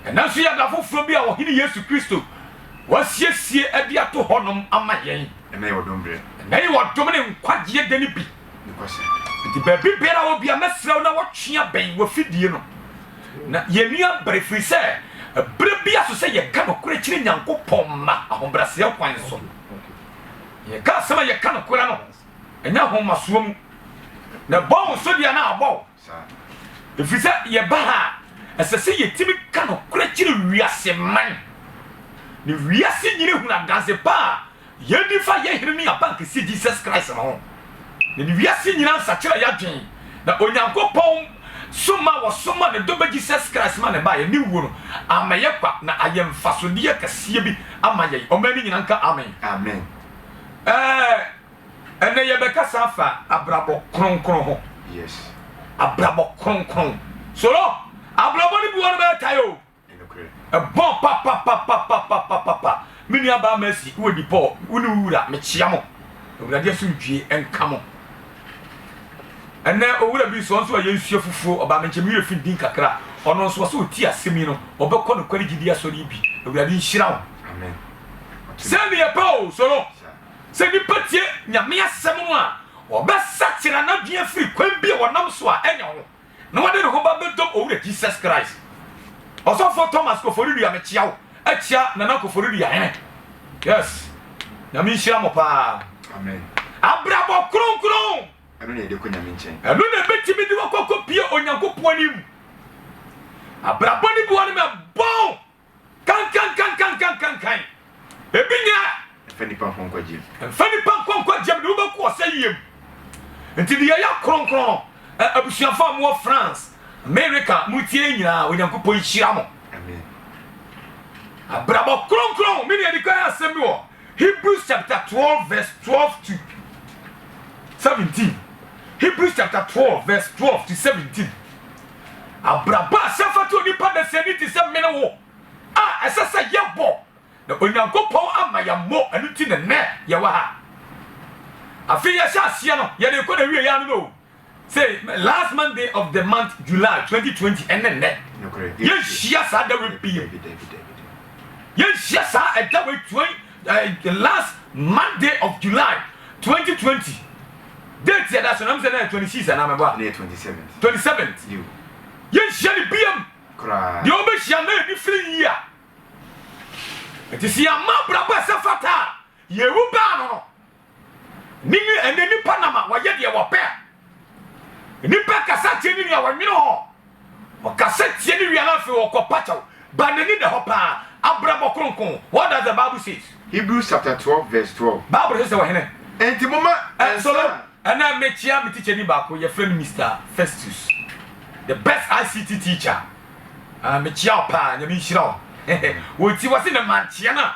Ɛnnɛ nso yɛ da foforo bi a Ɔhene Yesu Kristo wasiesie de ato hɔnom ama yɛn. Ɛnnɛ yɛ ɔdom berɛ. Ɛnnɛ yɛ ɔdom ne nkwagyeɛ da no bi. Enti baabi biara a wɔ bia mɛsrɛ wo na wɔtwea bɛn w'afidie no na yɛnua bere ɛfiri sɛ ɛberɛ bi aso sɛ yɛka nokorɛ kyerɛ Nyankopɔn mma ahobrɛaseɛ kwan so na yɛka asɛm a yɛka nokorɛ no ɛnyɛ ahomasoɔ mu na ɛbɔ wo so deɛ na abɔ wo Ɛfiri sɛ yɛba ha a, ɛsɛ sɛ yɛtumi ka nokorɛ kyerɛ wiase man, na wiase nyina hunu adanse pa a yɛdi fa yɛ Hene ne Abankɛseɛ Jesus Christ no ho, na ne wiase nyina nsakyera yɛ adwen, na Onyankopɔn soma a wɔsoma ne dɔba Jesus Christ ma no baeɛ ne wuo no ama yɛ kwa na ayɛ mfasodeɛ kɛseɛ bi ama yɛn. Ɔman no nyina nka Amen. Amen. Ɛɛ. Ɛnnɛ yɛbɛkasa afa abrabɔ kronkron ho. Yes. Abrabɔ kronkron. Solo, abrabɔ no bi wɔ no bɛyɛ tae o. Ɛbɔ papapapapapapa. Me nua baa Mercy, wɔ di Paul, wo ne wo wura, mekyia mo. Awurade asomdwie nka mo. Ɛnnɛ owura bi nso, ɔnso ayɛ nsuo fufuo, ɔbaa me nkyɛn, me werɛ fi din kakra. Ɔno nso ɔsɛ ɔti asɛm yi no, ɔbɛkɔ nokware gyidi asɔre yi bi. Awurade nhyira wo. Amen. Sɛ ne yɛ pɛ o, Solo. Sɛ nnipa tie Nyame asɛm no a, ɔbɛsakyera n'adwene afiri kwan bi a wɔnam so a ɛnyɛ ho, na wɔde ne ho ba bɛdɔm Owura Jesus Christ. Ɔsɔfoɔ Thomas Koforidua mekyea wo akyia Nana Koforidua hene yes Nyame nhyira mo paa Amen abrabɔ kronkron ɛno na yɛde kɔ Nyame nkyɛn ɛno na ɛbɛtumi de wakɔ akɔ pie Onyankopɔn anim abrabɔ ne bi wɔ no mɛbɔn Kankankankankankankan! Ebi nyɛ. Mfa nnipa nkɔ nkwagyeɛ mu. Mfa nnipa nkɔ nkwagyeɛ mu, deɛ wobɛkɔ ɔsɛeɛ mu. Nti deɛ ɛyɛ kronkron no, ɛ, abusuafoɔ a mowɔ France, Amerika, moretie yɛn nyinaa, Onyankopɔn nhyira mo. Amen. Abrabɔ kronkron, me nea ɛdikan asɛm bi wɔ Hebrews chapter 12 verse 12 to 17. Hebrews chapter 12 verse 12 to 17. Abrabɔ a ɛsɛ fata onipa nnɛsɛɛ no te sɛ mene wo a ɛsɛ sɛ yɛbɔ, na Onyankopɔn amma yɛammɔ, ɛno nti na nnɛ yɛwɔ ha. Afei yɛhyɛ aseɛ no, yɛde rekɔ na wieɛ ano no o, sɛ last Monday of the month July 2020 ɛne nnɛ yɛnhyia saa da wei bio, yɛnhyia saa ɛda wei 20. The last Monday of July twenty twenty date yɛda so na mesɛ na yɛ twenty six anaa mɛbɔ a na yɛ twenty seven twenty seven yɛnhyia ne biam koraa deɛ wobɛhyia na ɛni firi yi a ɛti sɛ yɛama abrabɔ ɛsɛ fata a yɛwu baa no no Ne nwi ɛnɛ nipa nam a wɔyɛ deɛ wɔpɛ a nipa kasa tie ne nua wɔnwene hɔ ɔkasa tie ne wia no afei ɔkɔ pakyɛw ba n'ani da hɔ paa abrabɔ kronkron what does the bible says Hebrews chapter twelve verse twelve. Bible se sɛ ɔhene. Enti momma Ɛ nsa. solo ɛnɛ mekyia me tikyani baako yɛfrɛ no Mister Festus the best ICT teacher ah mekyia wo paa nyame nhyira wo wɔti wɔse ne mankyea no a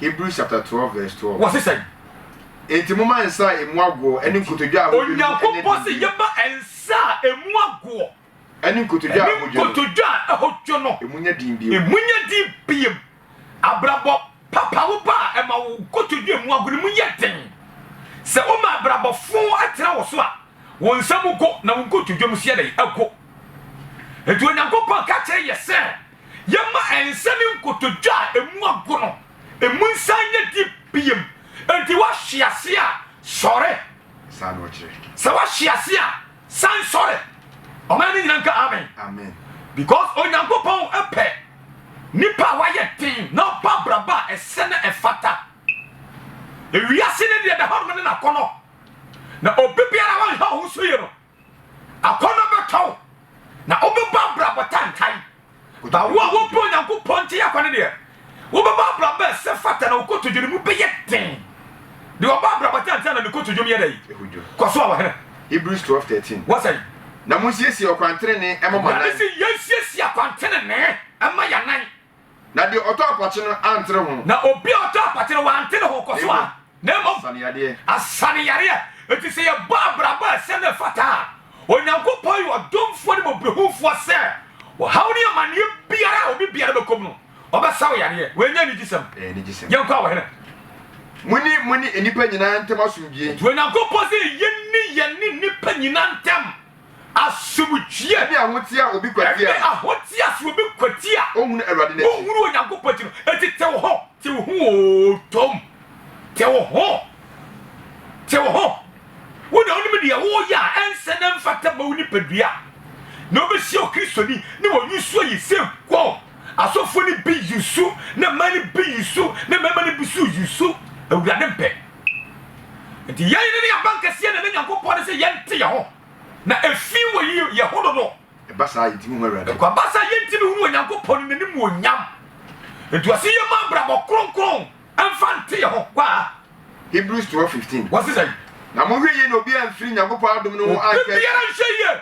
Hebrews chapter twelve verse twelve. Wɔsi sɛn? Enti momma nsa a emu agoɔ ɛne nkotodwe a hodwo no ɛnɛ Onyankopɔn si yɛma nsa a emu agoɔ ɛne nkotodwe a hodwo no nkotodwe a hodwo no emu nyɛ din biem. Emu nyɛ din biem. Abrabɔ papa wo ba a ɛma wo nkotodwe a emu ago no mu yɛ den. Sɛ woma abrabɔ foo ɛtena wo so a, wo nsa mu go na wo nkotodwe mu nso yɛ dɛn? Ago. Enti Onyankopɔn ka kyerɛ yɛ sɛ. Yɛma ɛnsɛ ne nkotodwe a emu ago no emu nsan nyɛ di biom. Enti woahwe ase a, sɔre. Sɛ woahwe ase a, san sɔre. Ɔman no nyina nka amen. Because Onyankopɔn pɛ nnipa a wɔayɛ den na wɔbɔ abrabɔ a ɛsɛ na ɛfata. Ewiase no deɛ da hɔnom ne n'akɔnnɔ, na obi biara a wanhwɛ wo ho so yie no, Akɔnnɔ bɛtɔ wo, na wobɛbɔ abrabɔ tantan. Ba wo a wopɛ Onyankopɔn nti yɛ kwane deɛ, wobɛbɔ abrabɔ a ɛsɛ fata na wo kotodwe no mu bɛyɛ den. Deɛ ɔbɔ abrabɔ tantan na ne kotodwe mu yɛ dɛn? Ɛhodwo. Kɔ so a, ɔhene. Hebrews twelve thirteen. Wɔ sɛn? Na monsiesie ɔkwan tenenee mma mo anan. Awurade se yɛnsiesie akwan tenenee mma yɛn anan. Na deɛ ɔtɔ apɔkye no antere ho. Na obi a ɔtɔ apɔkye no wante ne ho kɔ so a, na mmom. Asaneyadeɛ. Asaneyadeɛ. Enti sɛ yɛbɔ abrabɔ a ɛsɛ na ɛfata a, Onyankopɔn yɛ ɔdomfoɔ ne mmɔborɔhunufoɔ sɛ ɔhaw ne amaneɛ biara a obi biara bɛkɔ mu no, ɔbɛsa wo yadeɛ. Wei nyɛ anigyesɛm? Ɛyɛ anigyesɛm. Yɛnkɔ a Ɔhene. Monni mo ne nnipa nyinaa ntam asomdwoeɛ. Enti Onyankopɔn se yɛnni yɛne nnipa nyinaa ntam. Asomdwoeɛ. Ɛne ahoteɛ a obi kwati a. Ɛne ahoteɛ a sɛ obi kwati a. Ɔnhunu Awurade n'akyi. Ɔnhunu Onyankopɔn akyi no, enti te wo ho. Te wo ho oo, Tom. Te wo ho. Te wo ho. Wo na wonim deɛ woreyɛ a ɛnsɛ na ɛmfata mma wo nipadua. Na wobɛhyia Okristoni ne wɔn usuo yi sɛ wow, asɔfoɔ no bi usu, na mmaa no bi usu, na mmarima no bi nso usu. Awurade mpɛ. Enti yɛn yere ne yɛn abankɛseɛ na ɛne Nyankopɔn ne sɛ yɛnte yɛn ho, na ɛfii wɔ yi yɛn ho no no, ɛba saa a yɛntimi hu Awurade. Ɛkɔ aba saa yɛntimi hu Onyankopɔn ne n'animuonyam. Enti ɔse yɛmma abrabɔ kronkron mfa nte yɛn ho. Kɔ a. Hebrews 12:15. Wɔse sɛn? Na monhwɛ yie na obiara amfiri Nyankopɔn adom no ho anka afiri. Obi biara nhwɛ yie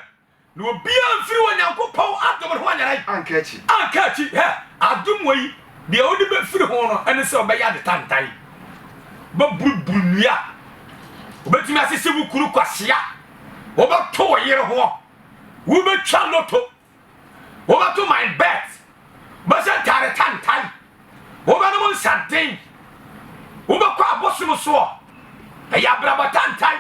Na obiara mfiri Onyankopɔn adom no ho anyera anka akyi. Anka akyi. Hɛ! Adom wei, deɛ wode bɛfiri ho no ne sɛ wobɛyɛ ade tantan. Wobɛburuburu nnua. Wobɛtumi asese wo kunu kwasea. Wobɛto wo yere ho. Wobɛtwa loto. Wobɛto my bet. Wobɛhyɛ ntaare tantan. Wobɛnom nsaden. Wobɛkɔ abosom soɔ. Ɛyɛ abrabɔ tantan.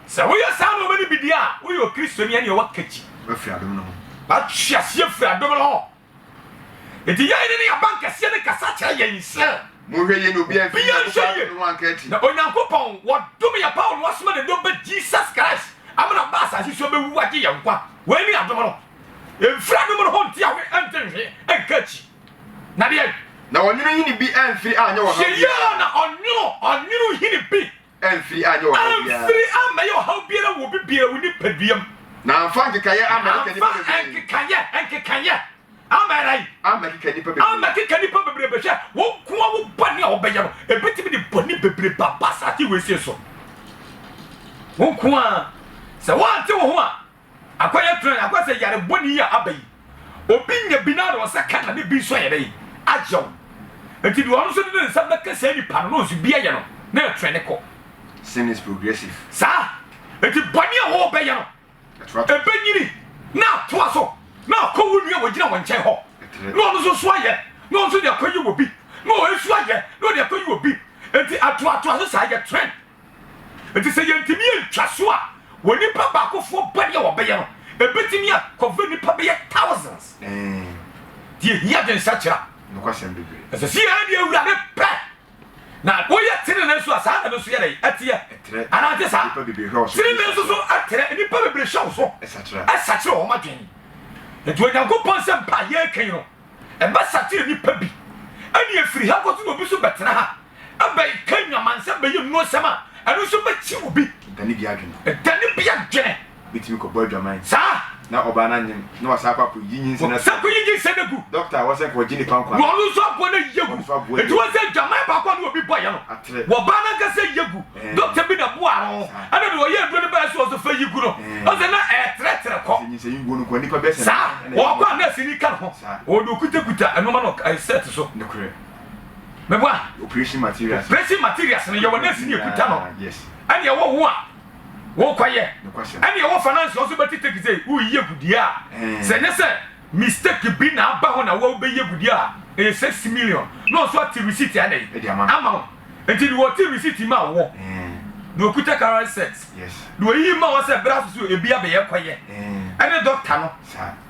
Sɛ woyɛ saa nnoɔma no bi deɛ a, woyɛ Okristoni ɛneɛ woaka akyi. Woafiri adom no ho. Woatwe aseɛ afiri adom no ho. Enti yɛn ne ne abankɛseɛ no kasa kyerɛ yɛn sɛ. Monhwɛ yie na obiara amfiri Nyankopɔn adom no ho anka akyi. Na Onyankopɔn, wɔdom yɛn paw na wasoma ne dɔ ba Jesus Christ amana aba asase so abɛwu agye yɛn nkwa. Wei ne adom no. Ɛmfiri adom no ho nte awe ɛnte nhwe ɛnka akyi. Na deɛn? Na ɔnwono hini bi amfiri anyɛ wɔn adeɛ. Hwɛ yie ara na ɔnwono, ɔnwono hini bi. Amfiri anyɛ ɔhaw biara. Amfiri ammɛyɛ ɔhaw biara wɔ obi biara wo nipadua mu. Na amfa nkekaeɛ ammɛkeka nnipa bebree. Amfa nkekaeɛ nkekaeɛ ammɛyɛ dɛn? Ammɛkeka nnipa bebree. Ammɛkeka nnipa bebree. Bɛhwɛ wo nko ara wo bɔne a wobɛyɛ no, ɛbɛtumi de bɔne bebree ba asase wei sei so. Wo nko ara, sɛ woante wo ho a, Akwa yɛ tran akwa sɛ yare bɔne yi a aba yi obi nya bi na ɔsɛ ka na ne bi nso ayɛ dɛn ayew nti deɛ ɔno nso de ne nsa bɛka saa nipa no na ɔnso bi ayɛ no na ɛtran ne kɔ Sin is progressive. saa nti bɔne a wɔ bɛyɛ no Ɛtra to. ɛbɛ nyini na atoa so na akɔ wo nua a ɔgyina wɔ nkyɛn hɔ Ɛtrɛ. na ɔno nso so ayɛ na ɔnso de akɔ yi wɔ bi na ɔnso ayɛ na ɔde akɔ yi wɔ bi nti atoatoa so saa yɛ tran. Enti sɛ yɛantumi antwa so a, onipa baakofoɔ bɔne a wɔbɛyɛ no, ɛbɛtumi a cover nnipa bɛyɛ thousands. Nti ɛhia adwensakyera. Ɛsɛ sɛ yɛyɛ deɛ Awurade pɛ. Na woyɛ tenenee nso a, saa na ɛno nso yɛ dɛ ɛteɛ. Anaante saa? Tenenee nso so ɛtrɛ. Nnipa bebree hwɛ wo so. Ɛsakyera wɔn adwene. Enti Onyankopɔn sɛ mpa a yɛreka yi no, Ɛbɛsakyer nyimpa bi, nna efir ha kɔ so na obi so bɛtsena ha abɛkã nwamansa, bɛyɛ mmuasɛm a ɛno so bɛkye obi. Dane bi adwen. Dane bi adwene. Obetumi kɔbɔ adwaman. Saa. Na ɔbaa no anyen, na wasan akɔ akɔyi nyinsɛn afi. Wɔsan kɔyi nyinsɛn agu. Dɔkta a wɔsɛ nka ɔgye nnipa nkwa. Na ɔno nso aboa no ayi agu. Ɔno nso aboa ayi agu. Enti wɔn sɛ adwaman baako a na obi bɔeɛ no. Atere. Wɔbaa no ankasa ayi agu. Dɔkta bi na boaa no. Ɛnna nea ɔyɛɛ aduro no bae sɛ ɔsɛ ɔfa yi gu no. Ɔsɛ na ɛretrɛtrɛ kɔ. Saa ɔkɔ a nɛɛseni ka ne ho. Ɔde okutakuta nnoɔma no ɛɛ sɛɛt so. Meboa? Operation materials. Operation materials no yɛwɔ nɛɛseni ekuta no. Ɛnna ɛwɔ wo a wokɔyɛ. Ɛnna ɛwɔ finance nso bɛte take sɛ woreyi agu deɛ a sɛ ɛnyɛ sɛ. Mistake bi na aba hɔ na wo bɛ yi agudie a ɛyɛ six million na ɔnso ate receipt a dɛn ɛde ama ama wo nti deɛ ɔte receipt ma wɔ deɛ ɔkuta current set deɛ ɔyi ma wɔ sɛ berɛ aso so ebi abɛyɛ kɔ yɛ ɛne doctor no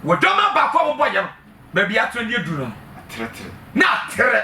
wɔ dɔma baako a wɔbɔ yɛ no baabi atere deɛ duru no no na atere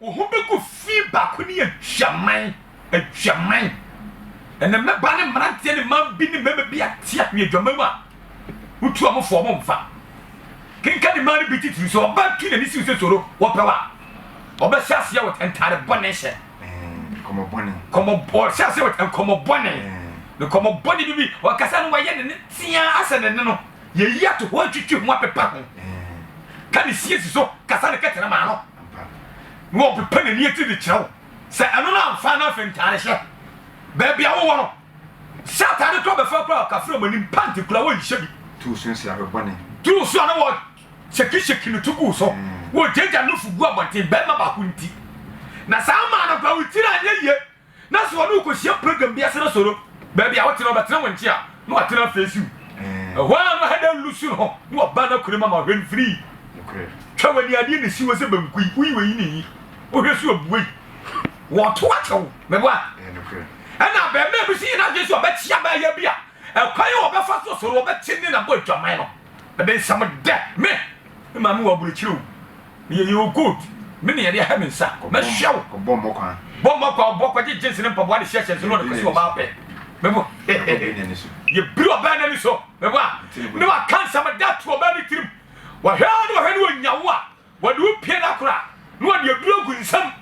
Wo ho bɛgu fi baako ne adwaman, adwaman. Ɛnna mmabaa ne mmeranteɛ ne mmaa bi ne mmarima bi ate ahwe adwaman mu a wotu wɔn fo wɔn mfa. Kenka ne mmaa no bi titiriw sɛ ɔbaa tu n'ani siw sɛ soro wɔpɛ wo a, ɔbɛhyɛ aseɛ wɔ ntaade bɔne hyɛ. Nkɔmmɔ bɔne. Nkɔmmɔ ɔhyɛ aseɛ wɔ nkɔmmɔ bɔne. Nkɔmmɔ bɔne bi bi ɔkasa no wɔyɛ ne ne teaa asɛ ne ne no. Yɛyi ato hɔ atwitwi ho apepa ho ka ne siesie so kasa ne kɛtɛnɛ maa no na wɔpepa n'ani atiri de kyerɛ wo sɛ ɛno no amfa no afei ntaade hyɛ baabi a wowɔ no sɛ ataade kora bɛfa kora kafra mu anim pante kora wɔnhyɛ bi tuu so nsi abɛbɔne tuu so a na wɔ hyɛkihyɛki no to guu so wɔgyagya no fo gu abɔnten bɛrima baako nti na saa maa no kora wo tiri anyɛ yie Na sɛ ɔne wo kɔhyia program bi ase na sɛ ɔno baabi a wote no ɔbɛtena wo nkye a, na watena afeesi wo. Ɛhɔ ara na ɔhɛ dɛ lusu no ho na waba n'akura mu ama ɔhwɛ no firii. Hwɛ w'ani adeɛ na ɛsi hɔ sɛ banku yi, woyi w'ayi ne yi, wohwɛ so abue yi, wɔto akyɛ wo. Meboa? Ɛna abarimaa bi nso yɛ n'adwene sɛ ɔbɛkye abaayewa bi a ɛkwan a ɔbɛfa so sɔre ɔbɛkye ne na bɔ adwaman no. Ɛde nsɛm dɛ me, me maame wɔ aburokyire o. Meyɛ yɛo good me ne yɛde ahɛ me nsa mɛhwɛ wo Ɔbɔ mmɔ kwa Bɔ mmɔ kwa Ɔbɔ kɔgye jeans ne mpaboa de hyɛ hyɛnse no ɔde kɔsi ɔbaa pɛ Mebo Yɛbiri ɔbaa no ani so Mebo a Ne waka nsɛm da to ɔbaa no tirim Wahwɛ a ne wahwɛ ne ɔnya wo a Wɔde wo pie no akora a Ne wɔde aduro agu nsam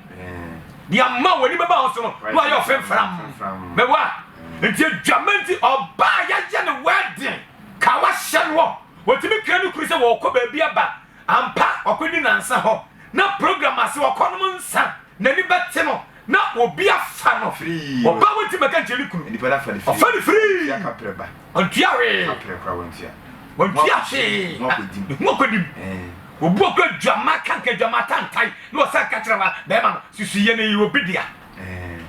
De ama wo w'ani bɛba wo so no Ne wayɛ wo fimfram Mebo a Nti adwama nti ɔbaa yɛayɛ ne wedding Ka wahyɛ noɔ Ɔtumi kra ne kunu sɛ wɔɔkɔ baabi aba Ampa, ɔkɔdi nnansa hɔ, na program ase, ɔkɔnom nsa, n'ani bɛte no, na obi afa no, ɔbaa wonti mmɛka nkyerɛ ne kunu, ɔfa no firi, ɔntua hwee, ɔntua hwee, ne ho akɔdim, obu ɔkɔ adwammaa kanka, adwammaa tantae, na ɔsan ka kyerɛ bɛɛma no, susuiɛ no, ɛyɛ obi dea.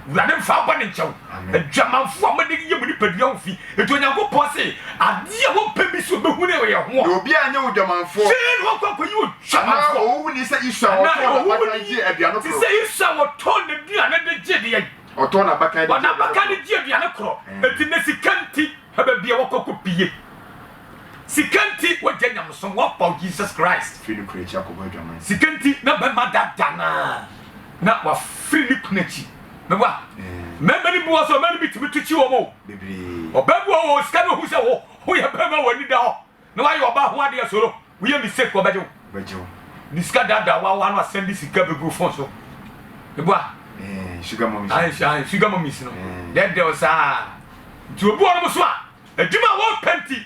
Wurade mfa bɔne nkyɛ wo. Adwamanfo a wɔde yɛ mu nipadua wo fi. Enti Onyankopɔn se, Ade a wɔmpɛ bi so behu no yɛ ho. Na obiara nyɛ odwamanfo. Fei na wɔkɔ akɔyi odwamanfo. Anaa owu ni sɛ Esau a ɔtɔɔ n'abakan gyee aduane koro. Te sɛ Esau a ɔtɔɔ n'aduane de gyee deɛn? Ɔtɔɔ n'abakan de gyee aduane koro. Enti nnɛ sika nti hwɛ baabi a wɔkɔ kɔpue. Sika nti wɔagyae nyamesom, wɔapaw Jesus Christ. Sika nti na bɛma dada no ara na wafiri ne kunu akyi meboa mmarima no bi wɔ sɛ ɔbaa no bi tumi to kyi wɔn o ɔbaa bi wɔ wɔ sika no ohu sɛ wo woyɛ bɛrima wɔ ani da hɔ na wayɛ ɔbaa ho adeɛ soro woyɛ mistake wɔbɛgye wo ne sika daadaa wawa no asɛn de sika bɛgu fon so meboa sugar mummies no dɛdɛw saa nti obi wɔ no mo so a adwuma a wɔpɛ nti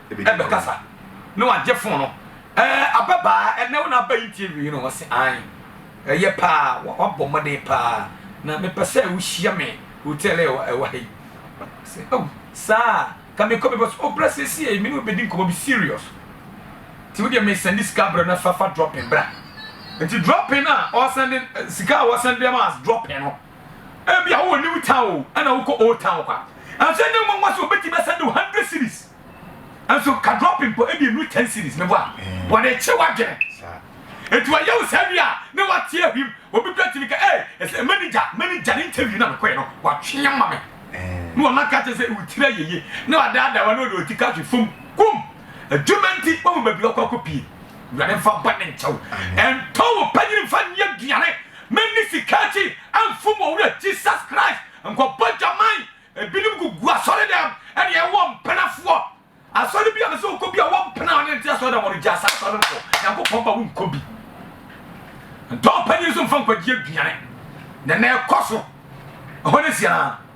bɛkasa ne wagye fon no ɛɛ ababaa ɛnɛ wo na aba yi tie wie no wɔ se an ɛyɛ paa wabɔ mmɔden paa na mepɛ sɛ wohyia me hotel ɛwɔ ɛwɔ ha yi sɛ oh saa ka mekɔ because ɔbrɛ siesie me ne wobɛdi nkɔmmɔ bi serious nti wodeɛ mesɛnde sika berɛ no fafa dropping bra nti dropping a ɔsɛnde sika a wɔsɛnde ma as dropping no Ebia wowɔ New Town o, ɛna wokɔ Old Town kwa. Nanso ɛnyɛ nwa nwa sɛ obetumi asɛnde wo hundred series. Nanso ka drop mpo, ebi enu ten series ne boa. Wɔde kye w'adwene. Eti wɔyɛ wo saa wie a, na wate ahwim. Obi kura tumi ka, ee, ɛsɛ manager, manager ne interview na mekɔɛ no, watwe ama me. Na wɔn aka kyerɛ sɛ wo tiri ayɛ yie. Na wadaadaa wɔn na wɔde wɔn ti ka hwe fam. Kum! Adwuma nti, wɔn baabi wɔkɔ akɔ pie. Awurade mfa bɔne nkyɛ wo. Ɛntɔ wo panyin mfa nyɛ aduane. Menni sika akyi mfom wɔ Wura Jesus Christ nkɔbɔ dwaman Ebinom gugu asɔre dɛm ɛne ɛwɔ mpena foɔ Asɔre bi a mese wokɔ bi a wɔ mpena a ɔne nte asɔre dɛm ɔno gyaa saa asɔre no kɔ Nyankopɔn ba wonkɔ bi Ntɔn panyin nso mfa nkwagyeɛ aduane Na ɛnɛ ɛkɔ so Ɛhɔ ne siaa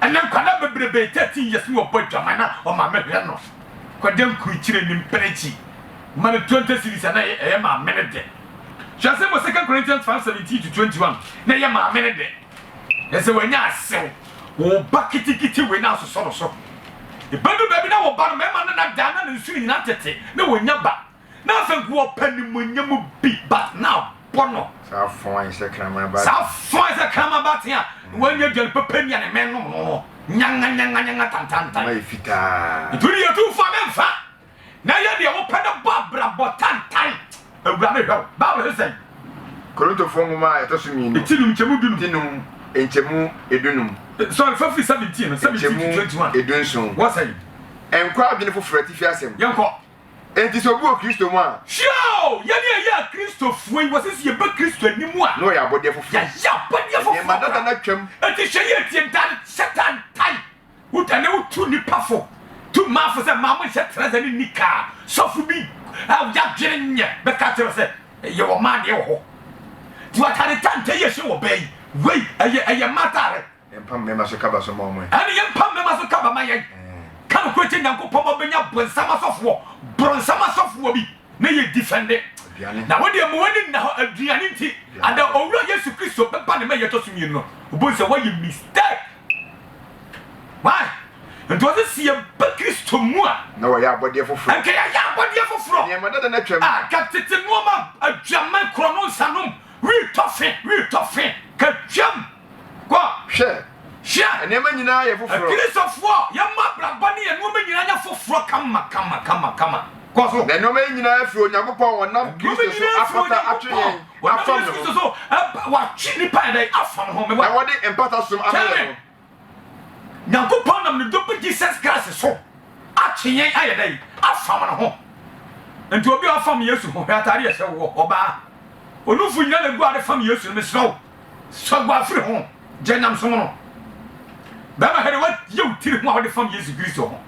Ɛnnɛ nkwadaa bebrebe, thirteen years ne ɔbɔ adwaman na ɔmaame hwɛ no kɔgye nkurukyire ne mprɛkyi ma no twenty cedis a na ɛyɛ maame no de. Hwɛ asɛm wɔ Second Corinthians five seventeen to twenty one na ɛyɛ maame no de. Ɛsɛ sɛ wanya asew wo ba ketekete wei na asosɔ no so. Ebedu baabi na wo ba no mmarima no na daa na ne nsu no nyinaa tete na wɔnya ba. Na afei gu ɔpɛ nimuonyam bi bat na abɔ no. Saa fɔn ayɛ sɛ kraman abaten. Saa fɔn ayɛ sɛ kraman abaten a wɔanya aduane pɛpɛ nni a ne mɛn nom no no. Nyanganyanganyanga tantantan. Ɛma yɛ fitaa. Ɛtu deɛ ɛtu fa me mfa. Na yɛ deɛ wopɛ no bɔ abrabɔ tantan. Awurade hwɛ wo. Bible se sɛn? Korintofoɔ nwoma a ɛtɔ so mmienu. Ɛti num nkyɛmu du num. Ti num nkyɛmu edu num. Sorry, fa firi seventeen no, seventeen to twenty one. Nkyɛmu edu nson. Wɔ sɛn? Nkɔ adwene foforɔ atifi asɛm. Yɛnkɔ. Enti sɛ obi wɔ Kristo mu a. Hyira o! Yɛn a yɛyɛ Akristofoɔ yi, wɔse sɛ yɛba Kristo anim a. Na wɔyɛ abɔdeɛ foforɔ. Yɛayɛ abɔdeɛ foforɔ. Nneɛma dada no atwam. Enti hyɛ yie tie, Dan Satan tae. Wodane wotu nnipa fo, tu mmaa fo sɛ mmaa monhyɛ trɛsɛ ne nikaa. Sɔfo bi a yɛadwene nyɛ bɛka akyerɛ wo sɛ, yɛwɔ mmaa deɛ wɔ hɔ. Nti w'ataade tantɛ yi a ɛhyɛ wɔ baa yi, wei ɛyɛ ɛyɛ mmaa ataare. Yɛmpa mmarima so kaba so ma wɔn ɛ. Ɛne yɛmpa mmarima so kaba ma yɛn. Ka nokorɛ kyɛ Nyankopɔn ma wobɛnya bonsam asɔfoɔ, bronsam asɔfoɔ bi na yɛ defende. Aduane. Na wodeɛ ma w'ani nna hɔ aduane nti. Ada Owura Yesu Kristo bɛba ne mɛyɛ ɛtɔ so mmienu no, wobɛhu sɛ woayɛ mistake. Why? Nti ɔse sɛ yɛba Kristo mu a. Na wɔyɛ abɔdeɛ foforɔ. Nka yɛayɛ abɔdeɛ foforɔ. Nneɛma dada no atwam. Ah, ka tete nnoɔma, adwaman, korɔno, nsanom, retɔ fe, retɔ fe, ka twam. Kɔ. Hwɛ. Hyia. Nneɛma nyinaa yɛ foforɔ. Akristofoɔ, yɛn mo abrabɔ ne yɛn nnoɔma nyinaa nyɛ foforɔ kama kama kama kama. Kɔ so. Na nnoɔma yi nyinaa firi Onyankopɔn a ɔnam Kristo so apata atwe yɛn afam no ho. Watwe nnipa ayɛ dɛn afam no ho? Na wɔde mpata som ama yɛn no. Nyankopɔn nam ne Dɔ Ba Jesus Christ so atwe yɛn ayɛ dɛn afam no ho? Nti obi a ɔfam Yesu ho, hwɛ ataade a ɛhyɛ wo hɔ, ɔbaa. Onumfo nyinaa na egu ade fam Yesu no, mesrɛ wo. Sɔ guafiri ho gya nyamesom no. Bɛma hɛde wa yɛ wo tiri ho a wode fam Yesu Kristo ho.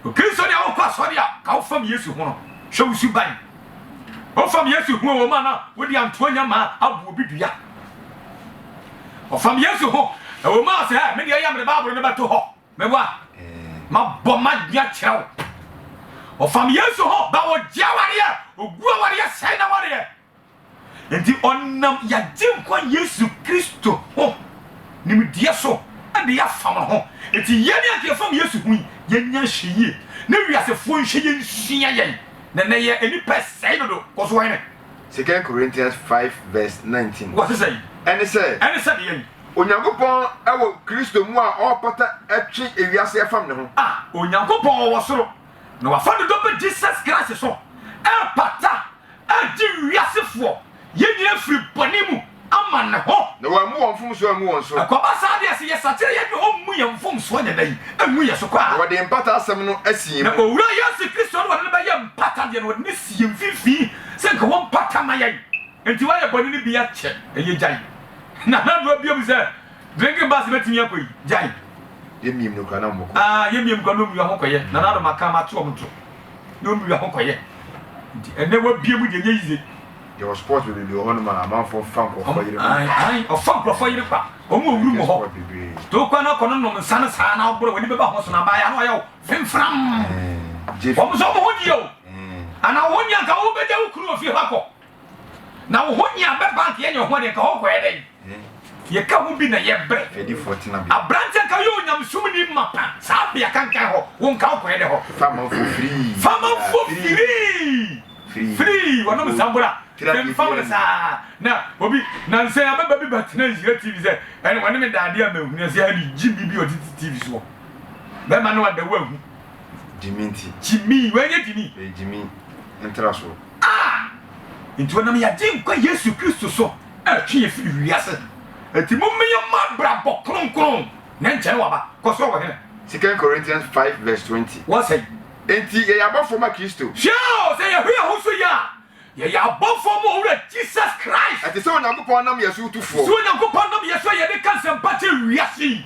Okristo ni a wokɔ asɔre a ka wo fam Yesu ho no hwɛ wo suban. Wo fam Yesu ho wɔ mu ana wode antoa nya ma abu obi dua. Wo fam Yesu ho wɔ mu a sɛ me deɛ yɛ mede Bible no bɛto hɔ me wa ma bɔ ma dua kyerɛ wo. Wo fam Yesu ho ba wɔ gye awareɛ, ogu awareɛ sɛe na wareɛ. Enti ɔnam y'Agyenkwa Yesu Kristo ho nimdeɛ so na y'afam no ho. Enti yɛn a nka yɛfam Yesu ho yi, yɛnya nhwɛyie na wiasefoɔ nhwɛ yɛn nsua yɛn, na ɛnnɛ yɛ nnipa sɛe dodo kɔ so hene. Second Corinthians five verse nineteen. Wɔ se sɛn? Ɛne sɛ. Ɛne sɛ deɛn? Onyankopɔn wɔ Kristo mu a ɔrepata atwe ewiase afam ne ho. A. Onyankopɔn wɔ soro na wafa ne dɔ ba Jesus Christ so repata. Agye wiasefoɔ, yɛn nyinaa, afiri bɔne mu ama Ne ho. Na Wammu wɔn mfomsoɔ angu wɔn so. Ɛkɔba saa deɛ, sɛ yɛsakyera yɛn deɛ, Ɔmmu yɛn mfomsoɔ nyɛ dɛn? Angu yɛn so koraa. Na Ɔde Mpata Asɛm no asi yɛn mu. Na Owura Yesu Kristo no, Ɔde no bɛyɛ mpata deɛ, na Ɔde no asi yɛn mfimfini sɛ nka Ɔmpata ma yɛn. Enti wayɛ bɔne no bi akyɛ, ɛyɛ gyae. Na Nana Addo abiam sɛ. Drinking bus bɛtumi akɔ yi gyae. Yɛ miam no kura na ɔmo kɔ. Aah yɛ miam kura na ɔmo wia ho kɔyɛ nana ado ma kan ma to ɔmo to na ɔmo wia ho kɔyɛ nti ɛnɛ wa bia mu deɛ nyɛ yize. Yɛwɔ sports bebrebe wɔ hɔ nom a amanfoɔ fa nkorɔfoɔ yere kwa. Ae ae ɔfa nkorɔfoɔ yere kwa ɔmo wɔ wurum wɔ hɔ nti wo kɔ na kɔ no nom nsa no saa na ɔborɔ wani bɛba ho so na abaayɛ ano ɔyɛ wo fimfram ɔmo nso ɔmo ho nni yɛ o anaa wo ho nni anka wo bɛgya wo kunu wɔ fie hɔ akɔ. Na wo ho hia bɛ bank yɛnyɛ ho ade nka hɔ kɔyɛ dɛn yɛka ho bi na yɛbrɛ abrante nka yɛ onyamesum ni mapa saa bea kankan hɔ wo nka wokɔyɛ dɛ hɔ famanfo firii firii wɔnom nsabora mfam no saa na obi nansɛ abɛba bi batena nhyira tv sɛ ɛne wɔne me daade a mahunu sɛ ɛne gye bi bi ɔtete tv soɔ bɛma no adawo ahu gyimi nti gyimi wɔnyɛ gyimi gyimi ntra soɔ a enti wɔnam yɛn Agyenkwa Yesu Kristo so retwe yɛn firi wiase. Enti momma yɛmmɔ abrabɔ kronkron, na ɛnkyɛ na waba. Kɔ so wɔ he? 2 Corinthians five verse twenty. Wɔ sɛn? Enti yɛyɛ abɔfoɔ ma Kristo. Hwɛ o, sɛ yɛhwɛ yɛn ho so yie a, yɛyɛ abɔfoɔ ma Owura Jesus Christ. Ɛte sɛ Onyankopɔn nam yɛn so tu foɔ. Sɛ Onyankopɔn nam yɛn so a yɛde ka nsɛmpa kyerɛ wiase yi.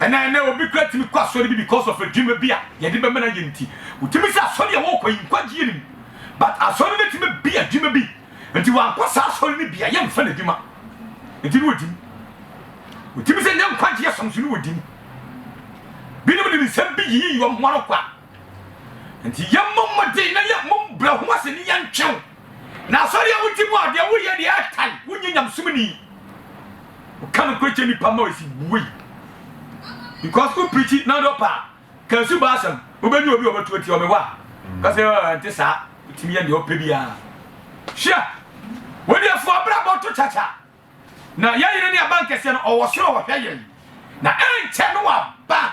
Ɛna ɛnɛ obi kura tumi kɔ asɔre bi because of adwuma bi a yɛde bɛma no ayɛ nti. Wotumi sɛ asɔre a wɔkɔ yi nkwagyeɛ nim but asɔre no tumi bia adwuma bi nti wankɔ saa asɔre no bia yɛmfa no adwuma nti ne wɔdi mu. Wotumi sɛ nyɛ nkwagyeɛ som so ne wɔdi mu. Binom nim nsɛm bi yiyi wɔn ho ano kwa. Nti yɛmmɔ mmɔden na yɛmmɔ mu brɛ ho ase ne yɛntwe wo. Na asɔre a wogye mu a deɛ woyɛ deɛ ɛtan, wonyɛ nyamesomni. Woka no kɔgye nipa ma ɔsi woi. Because wo preachi na dɔ paa. Ka asu ba asɛm, wobɛnya obi ɔbɛto atia ɔme hɔ a. Kɔsɛ ɛnte saa, wotumi yɛ deɛ ɔpɛ biara. Hwɛ, wodiɛfoɔ abrabɔ to kyakya. Na yɛyere ne abankɛseɛ no ɔwɔ soro ɔhwɛ yɛn. Na ɛnkyɛ no waba.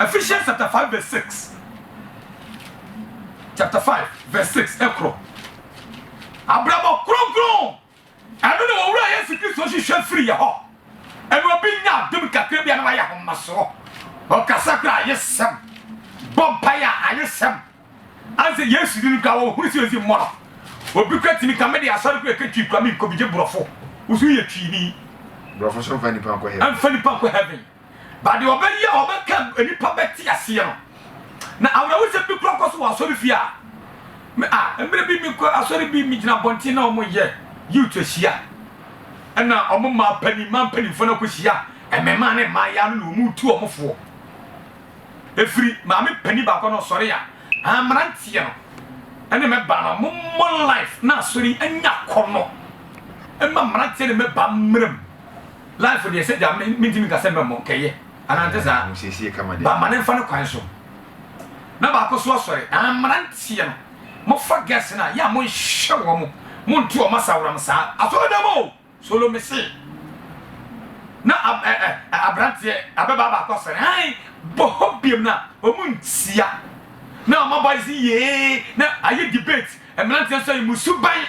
Ephesians chapter five verse six chapter five verse six ɛkorɔ abrabɔ kronkron ɛno na owura Yesu Kristo hwehwɛ firi yɛ hɔ ɛna obi nya adum kakra bi a na wayɛ ahomasoɔ ɔkasa kora ayɛ sɛm bɔ mpaeɛ a ayɛ sɛm anse Yesu di no kora wɔhunu sɛ ɔsi mmɔ no obi kora tumi ka mede asɔre kora ɛka twi kora menkɔ bi gye borɔfo woso yɛ twini borɔfo so mfa nipa nkɔ heaven mfa nipa nkɔ heaven But deɛ ɔbɛyɛ a ɔbɛka nnipa bɛte aseɛ no. Na awerɛhosɛm bi kora kɔ so wɔ asɔrefie a me a mmerɛ bi mekɔ asɔre bi megyina abɔnten na wɔyɛ youth ahyia ɛna wɔn mmaa panin mmaa mpanimfoɔ no akɔhyia mmemaa ne mmaayaa no na wɔn retu wɔn foɔ ɛfiri maame panin baako no ɔsɔre a mmeranteɛ no ɛne mɛba no mommɔ life na asɔre anya kɔ no ɛma mmeranteɛ ne mɛba mmerɛ mu Life deɛ sɛ gya mentimi nka sɛ mɛmmɔ nkɛyɛ anaa nte saa ba ma ne mfa ne kwan so na baako so asɔre ah, mmeranteɛ no mofa girls no a yɛ a monhwɛ wɔ mo monte ɔma saworam saa asɔredam o solo me se na aberanteɛ abɛbaa baako asɔre han bɔ hɔ biam no a ɔmu ntia na ɔma boys yee na ayɛ debate mmeranteɛ nso ayɛ mu suban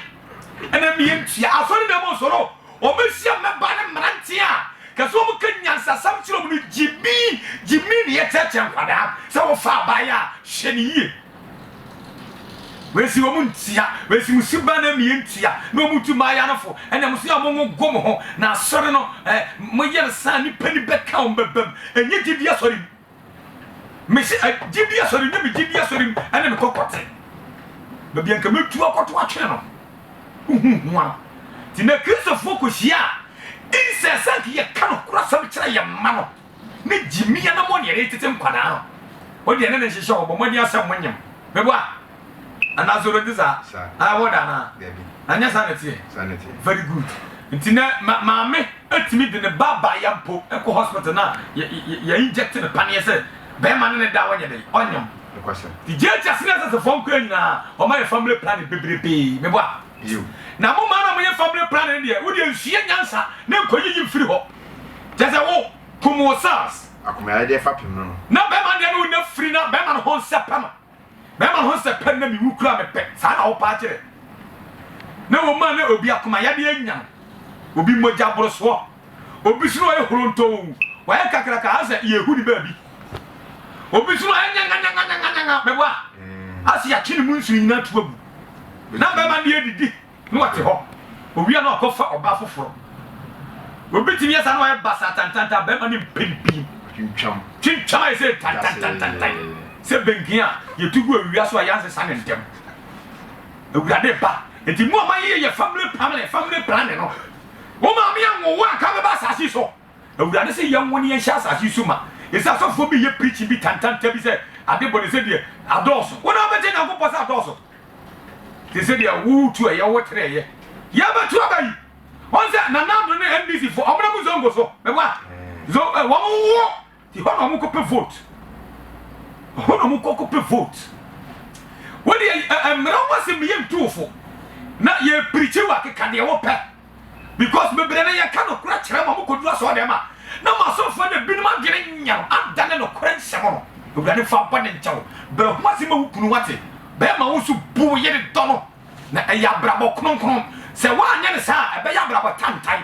ɛna mmeyɛ ntua asɔredam o solo Wɔbɛhyia mmabaa ne mmeranteɛ a kɛse wɔka nyansasɛm kyerɛ wɔn no gyimii gyimii na yɛkyerɛkyerɛ nkwadaa sɛ wofa abaayewa a hwɛ no yie. Wɔsi wɔn ntia, wɔsi mo suban na mmea ntia na wɔtu mmaayewa no fo. Ɛnna mo so a mogogo mo ho na asɔre no eh, moyɛ no saa a nnipa ni bɛka wɔn bɛbam. Ɛnyɛ gyidie asɔre mu. Mese ɛ, gyidie asɔre nyɛ me gyidie asɔre mu ɛne me kɔkɔte. Baabi a nka mɛtu akɔto atwene no, wohu ho ara. Nti na Kristofoɔ kɔhyia a, insɛ sɛ nka yɛka nokorɛsɛm kyerɛ yɛn mma no, ne gyimii anammɔn ne yɛde retete nkwadaa no, wodeɛ ne ne nhyehyɛ hɔ, bɔ mmɔden ara sɛ monyem. Meboa? Anaa so obedi saa? Saa. Ɛwɔ da anaa? Dabi. Anyɛ saa na ɛteɛ? Saa na ɛteɛ. Very good. Nti nɛ ma maame atumi de ne ba ba ya mpo ɛkɔ hospital na yɛ yɛ yɛ inject no paneɛ sɛ bɛɛma ne ne da a ɔnyɛ dɛn? Ɔnyam. Nokwasɛm. Nti JHS ne SS foɔ nkoa nyinaa wɔn ayɛ family planning bebrebee me bo a. Bio. Na mo maa no a mo yɛ family planning no deɛ wo deɛ nsua nyansa ne nkɔ yiyi mfiri hɔ kyɛ sɛ wo kum wo cells. Akomayadeɛ fapem no no. Na bɛɛma deɛ no wo nya firi na bɛɛma no ho nsɛ pɛ no. Bɛrima ho sɛ pɛ na me wu koraa mepɛ, saa na ɔpaa kyerɛ. Na wɔn a na obi akoma yadeɛ anya no, obi mogya aboro soɔ, obi nso na ɔyɛ horontoo, wayɛ kakraka asɛ yɛhu ne baabi, obi nso na ɔyɛ nyanganyanga, nyanganyanga, mɛboa, asɛ yɛakye ne mu nsuo nyinaa ato agu. Na bɛrima deɛ didi. na wɔte hɔ, owia na ɔkɔfa ɔbaa foforɔ. Obi tumi yɛ saa na wayɛ basaa tantantan, barima no mpem pii twintwam twintwam ayɛ sɛ tantantantantan sɛ benken a yɛtu gu awia so a yɛansesa no ntɛm. Awurade ba, enti mo a moayeyɛ family family family planning no, wo maame anwo wo anka bɛba asase so. Awurade se yɛn wo ne yɛn hyɛ asase yi so ma. Ese asɔfoɔ bi yɛ preaching bi tantanta bi sɛ ade bone sɛ deɛ adɔɔso. Wo na wo bɛte Nyankopɔn sɛ adɔɔso? Te sɛ deɛ wo tu ɛyɛ wo tere ɛyɛ. Yɛ bɛto aba yi. Wɔn sɛ Nana Addo ne NDC foɔ wɔn na mu zongo so. Meboa. Zo eh wɔn wo Hɔ na ɔmo kɔ pɛ vote. Hɔ na ɔmo kɔ kɔ pɛ vote. Wo deɛ ɛ ɛ mmra ho asɛm yɛ ntu wo fo. Na yɛ prikyi wo akeka deɛ wo pɛ. Because bebree no yɛ ka nokorɛ kyerɛ ma ɔmo kɔ duru asɔre dɛm a na mo asɔfoɔ no ebinom adwene nyɛ no adane nokorɛ nsɛm no. Awurade nfa bɔne nkyɛ wo. Brɛ ho ase ma wo kunu wate. Bɛɛma wo nso bu wo yere dɔ no. Na ɛyɛ abrabɔ kronkron. Sɛ woanyɛ no saa a ɛbɛyɛ abrabɔ tantan.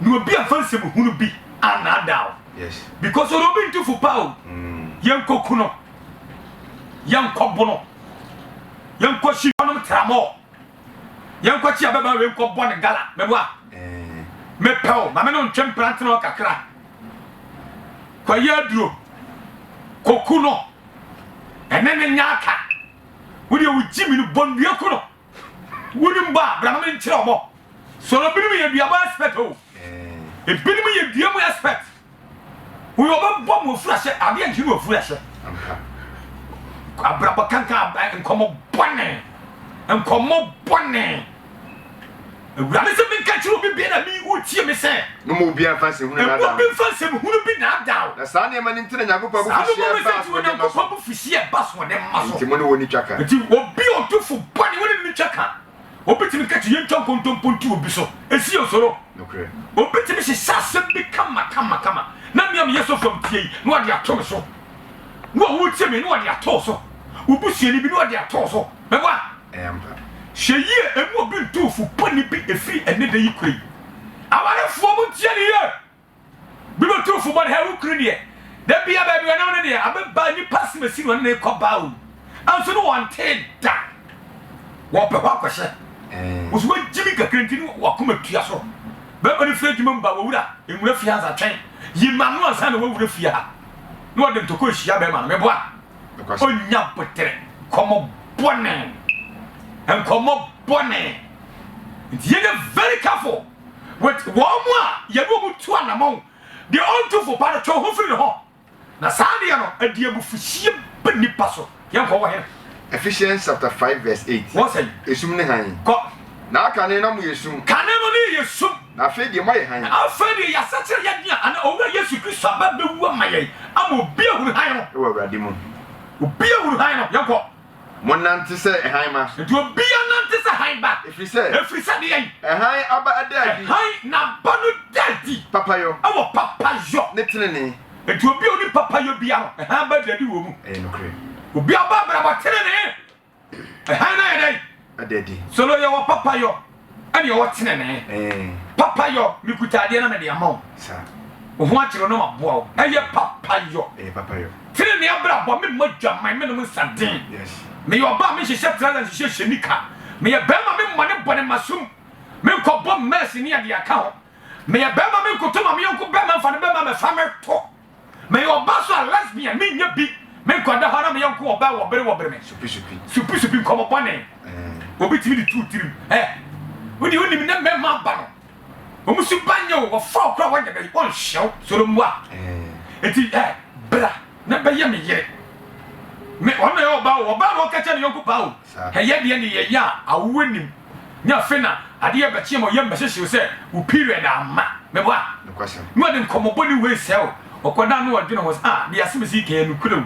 na obi amfa nsɛm hunu bi annaadaa wo yes because ɔde obi nto fo paa o mm. yɛnkɔku no yɛnkɔbo no yɛnkɔhyi ɔnom tramɔ yɛnkɔkye abɛba wei nkɔbɔ ne gala mɛboa eh. mepɛ o ma me no ntwe mprante no kakra kɔyɛ aduro kɔku no ɛne ne nya aka wodeɛ wogye me no bɔnnua ku no Wonim bɔ a, bra na menkyerɛ wo bɔ. Sɔlɔ binom yɛ duabɔ expert o. Ebinom yɛ dua mu expert. Woyɛ ɔbɛbɔ mu ofurahyɛ, adeɛ nti ne ofurahyɛ. Abrabɔ kankan nkɔmmɔ bɔne, nkɔmmɔ bɔne. Awurade se menka nkyerɛ obi biara a me yi woretie me sɛ. Mma obiara mfa nsɛmhunu nnaadaa mo. Mma obi mfa nsɛmhunu bi nnaadaa wo. Na saa nneɛma no nti na Nyankopɔn abufuhyeɛ baa asoɔdenmma so. Saa nneɛma no nti na Nyankopɔn abufuhyeɛ baa asoɔdenmma so. Enti mo ne wɔn nni twaka. Enti obi a odufo bɔne, wo ne no nni twaka. Obetumi ka sɛ yentwa nkontompo nto obi so, esi yɛn so no. Nokorɛ. Obetumi hyehyɛ asɛm bi kamakamakama, na me a meyɛ sɔfo a metie yi, na ɔde ato me so. Wo a woretie me yi, na ɔde ato wo so. Wo busuani bi, na ɔde ato wo so. Mɛbɔ a? Ɛyɛ ampa. Hwɛ yie ɛmu obi ntuu fo bɔne bi ɛfiri ɛnnɛ da yi kura yi. Awarefoɔ mo ntie no yie. Bi bɛtuu fo bɔne, hɛ wo kunu deɛ, da biara baabi ɔne wo no deɛ, abɛba nnipa asem asi no ɔne no rekɔ baa o, nanso ne wɔntee da. Wɔpɛ hɔ akɔhyɛ. Wo nso woagyimi kakra nti ne w'akoma tua so. Bɛrima no firi adwuma mu ba, W'awura, nwura fie ha ansa, twɛn, yi m'ano ansa na woawura fie ha. Na ɔde ntɔkwa rehyia bɛrima no. Mɛbɔ a? Onya botere nkɔmɔ bɔne nkɔmɔ bɔne nti yɛ yɛ very careful with wɔn mu a yɛ ne wɔn tu anamɔn deɛ ɔntu fo pa no twɛ ho firi ne hɔ na saa deɛ no ɛde abufuhyie ba nipa so yɛn kɔ wɔ hene. Ephesians chapter five verse eight. Wɔn sɛn. Esum ne hann. Kɔ. Na kane na mo yɛ sum. Kane no ne yɛ sum. Na afei deɛ moayɛ hann. Na afei deɛ yɛasakyera yɛn dea, anaa Owura Yesu Kristo aba bɛwu ama yɛn, ama obi ahunu hann no. Wɔ Awurade mu. Obi ahunu hann no. Yɛnkɔ. Monnante sɛ hann mma. Enti obiara nnante sɛ hann ba. Ɛfiri sɛ. Ɛfiri sɛ deɛn? Hann aba da adi. Hann n'aba no da adi. Papayɔ. Wɔ papayɔ. Ne tenenee. Enti obi a ɔnim papayɔ biara no, hann ba da adi wɔ mu. Ɛyɛ nokorɛ. Obi a ɔbɔ abrabɔ tenenee Hann no ayɛ dɛn? Ada adi. Solo yɛ wɔ papa yɔ ɛne ɔwɔ tenenee. Ɛɛ. Papa yɔ, mekuta adeɛ na mede ama wo. Sa. Wo ho akyere wo na maboa wo. Ɛyɛ papa yɔ. Ɛyɛ papa yɔ. Tenenee abrabɔ, me mmɔ dwaman, menom nsa den. Yes. Meyɛ ɔbaa, menhyehyɛ trouser, nhyehyɛ hyɛ nika. Meyɛ barima, me mmɔ ne bɔne masum. Menkɔ bɔ mɛɛs ne adeɛ aka ho. Meyɛ barima, menkoto ma me yɔnko barima mfa ne barima mɛfa mɛtɔ. Meyɛ ɔbaa nso a lesbian menyɛ bi Me nkwadaa hɔ na meyɛ nko ɔbaa Wɔbere wɔbere me Supi supi nkɔmmɔ bɔne Obi tumi de too tirim eh Wo deɛ wonim nnɛ mmarima aba no Wɔn su ba nyɛ o Wɔfa wo koraa wɔnyɛ bɛyi Wɔnhyɛ wo soro mmoa Eti eh bra na bɛyɛ me yere Me ɔno na ɛyɛ ɔbaa o Ɔbaa na ɔka kyerɛ ne yɔnko paa o Hɛ yɛ deɛ ne yɛ yɛ a awoɔ nim ne afei na adeɛ yɛ bɛkyeɛ ma ɔyam bɛhyehyew sɛ wo period amma mebo a ne ɔde nkɔmɔbɔne wei sɛe wo ɔkɔ da a ne ɔdwene ho sɛ ah deɛ asɛm sii kɛɛ nokorɛ wu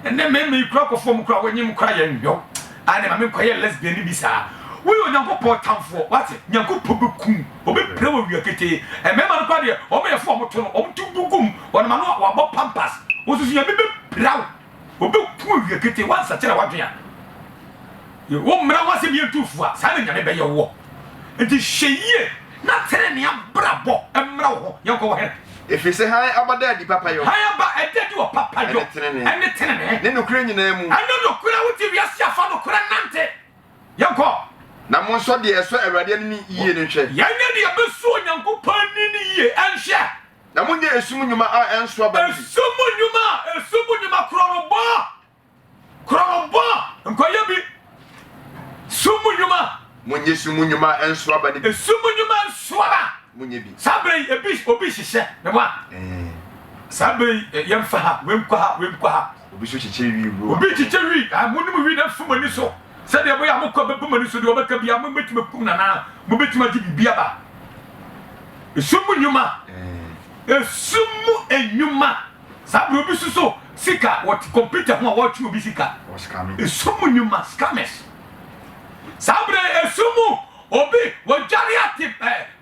ɛnɛ mmɛma yi kora kɔ fɔm kora wonyem kora yɛ nhwɛ wo ah ne ma me nkɔyɛ lesbian ne bi saa woyɛ onyankopɔn tamfoɔ wate nyankopɔn bɛkum ɔbɛpira wɔ wia ketee mmɛma no kora deɛ ɔmo yɛ fo ɔmo to no ɔmo to gu gum ɔnam ano a wabɔ pampas wosusu nyame bɛpira wo Wɔbɛku awia ketee woansakyera w'adwene a Ye wo mmara ho asɛm yɛ ntu fua saa na Nyame bɛyɛ woɔ Nti hwɛ yie na tenenee abrabɔ mmra wo ho Yɛnkɔ wɔ hene. Ɛfiri sɛ hann aba da adi papayɔ. Hann aba ɛda adi wɔ papayɔ ne tenenee. Ne nokorɛ nyinaa mu. Ɛne nokorɛ wote wiase a fa nokorɛ nante Yɛnkɔ. Na monsɔ deɛ ɛsɔ Awurade ani no yie no nhwɛ. Yɛnyɛ deɛ ɛbɛsɔ Onyankopɔn ani no yie nhwɛ. Na monyɛ esum nnwuma a ɛnso aba no bi. Esum nnwuma, esum nnwuma, korɔnobɔ, korɔnobɔ, nkɔyɛ bi, sum mu nnwuma. Monyɛ esum mu nnwuma a ɛnso aba no bi. Esum mu nnwuma nso aba. Monyɛ bi. Saa berɛ yi, ebi, obi hyehyɛ ne wa. Saa berɛ yi, eh, yɛmfa ha, wei nkɔ ha, wei nkɔ ha. Obi nso kyekyɛ wi, wura. Obi kyekyɛ wi, ah, monom wi na mfiri mo ani so. Sɛdeɛ ɛbɛyɛ a mo kɔ bɛbɔ mo ani so deɛ ɔbɛka biara mobɛtumi akum no anaa mobɛtumi agye biribi aba. Esum mu nnwuma. Esum mu nnwuma. Saa berɛ obi suso sika wɔ kɔmputa ho a wɔretwe obi sika. Esum mu nnwuma, scammers. Saa berɛ esum mu obi wɔdwane ate eh,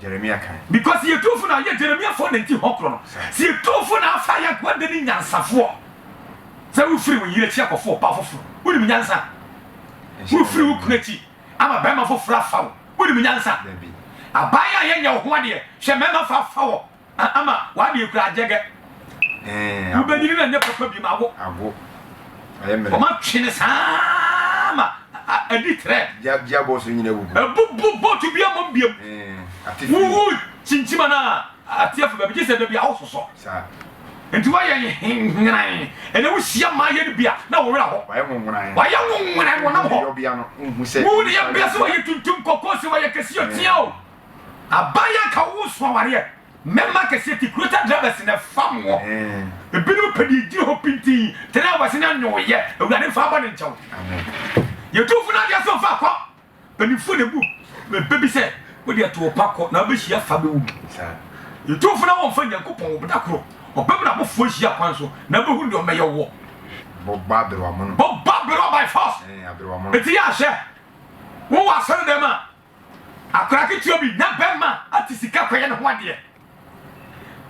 Jeremia kan. Because yɛ tumfo na yɛ Jeremia fo nanti hɔ koro no sɛ yɛ tumfo na afa yɛ aguade ne nyansafoɔ sɛ wo firi wo yere akyi akɔfo ɔbaa foforo wonim nyansa wo firi wo kunu akyi ama bɛrima foforo afa wo wonim nyansa abaayewa yɛ nyɛ wo ho adeɛ hwɛ mɛrima fa afa wɔ Ama w'adwen kura gyɛgɛ. Wobɛnyini na nyɛ papa bim awo. Wɔma twe no saa ma adi trɛ. Ɛbubu bootu bi mmom biam. Wowu kyinkyim anaa ateɛfo baabi gye sɛ da bi a wososɔ. Nti woayɛ nhenhenan. Ɛnɛ wohyia mmaayɛ no bi a na wo werɛ ho. Wɔayɛ nwonwonan wɔnam hɔ. Wohu ne yɛbea sɛ wɔyɛ tuntum kɔkɔɔ sɛ wɔyɛ kɛse otia o. Aban anka wo so awareɛ. Mɛma akɛseɛ te Kurota drivers na ɛfam wo Ebinom pɛ deɛ ɛgyina hɔ pintinn Drivers no nyɛ wo yɛ Awurade mfa bɔne nkyɛ wo Yɛ tumfo no adeɛ so mfa kɔ Mpanimfoɔ na ɛbu bɛ bi sɛ Wo deɛ to wo pa kɔ na wobɛhyia fa bɛwu bi Yɛ tumfo na wɔmfa Nyankopɔn wo Da koro ɔbɛm na abofoɔ ahyia kwan so Na wobɛhunu deɛ ɔmmɛyɛ woɔ Bɔbɔ aberewa mono Bɔbɔ aberewa by force Enti yɛ ahwɛ Wo wɔ asɔredɛm a. Akwadaa ketewa bi na bɛrima ate sika kɔyɛ ne ho adeɛ.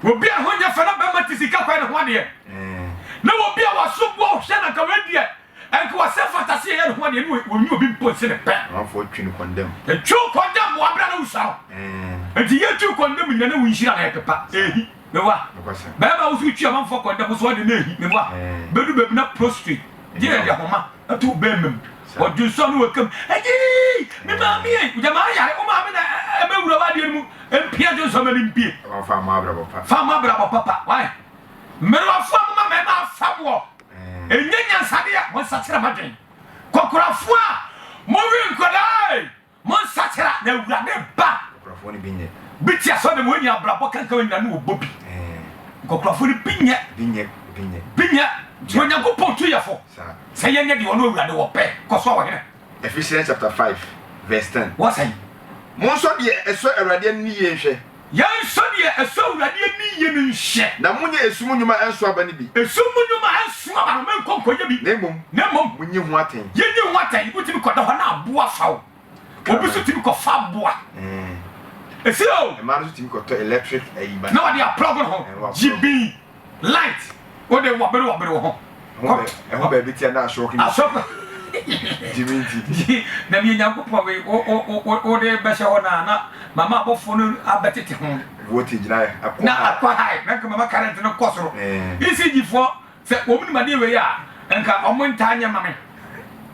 Obi a ho nyɛ fɛ na bɛrima te sika kɔyɛ ne ho adeɛ. Na obi a waso boɔ hwɛ na nka wei deɛ nka wasɛ fata se yɛyɛ ne ho adeɛ ne wɔnyi obi mpo nse ne pɛ. Amanfoɔ twi no kɔndɛm. Ɛtwi wo kɔndɛm mmoa berɛ na wosua no. Nti yɛtwi kɔndɛm nyina na wo nhyira na ɛpepa. Ehi. meboa bɛɛma wo so retwi amanfoɔ kɔ ndɛpo so ɔde ne ahi meboa bɛdu baabi na prostrate gye yɛde ahoma ato bɛɛma mu ɔdwensɔ ne wakam agyii me maame ei wogya maa yare wo maame na ɛbɛwura w'adeɛ no mu mpia dwensɔ ma ne mpie fa mmɔ abrabɔ papa fa mmɔ abrabɔ papa wae mmerewafoɔ moma mɛma afa moɔ ɛnyɛ nyansadeɛ a monsakyera madwen kɔkorafoɔ a mowe nkwadaa ei Monsakyera na Awurade ba. Nkɔkorɔfoɔ no bi nyɛ. Bi te asɔre dɛm, wɔnnya abrabɔ kanka wɔn nyinaa ne wɔbɔ bi. Nkɔkorɔfoɔ no bi nyɛ. Bi nyɛ, bi nyɛ. Bi nyɛ, nti Onyankopɔn tu yɛfo sɛ yɛnyɛ deɛ ɔno Awurade wɔ pɛ. Kɔ so, Ɔhene. Ephesians chapter five verse ten. Wɔsɛe. Monsɔ deɛ ɛsɔ Awurade ani no yie nhwɛ. Yɛnhwɛ deɛ ɛsɔ Awurade ani yie no nhwɛ. Na monyɛ esum nnwuma nso aba no bi. Esum mu nnwuma nso aba no, menkɔ nkɔyɛ bi. Na mmom, Na mmom, monyi ho atɛn. yɛnyi ho atɛn. Wotumi kɔda hɔ na aboa fa wo. Obi nso tumi kɔfa aboa. Ɛɛ. Ɛsɛ o. Mmaa no nso tumi kɔtɔ electric ayi ba. Na wɔde aplɔg no ho. Ɛɛ, wɔaplɔg. Gyibin. Light, wo de wɔbere wɔbere wo ho. Ɛho baabi tia na asɔk ni. Asɔk. Jimi nti. Na mi Nyankopɔn we wo de bɛhyɛ hɔ na na mama abɔfo no abɛtete ho. Voltage na akɔ. Na akɔ high na nka mama current no kɔ soro. ECG fo sɛ wɔn nim adeɛ wei a nka wɔn ntaa nyɛ ma me.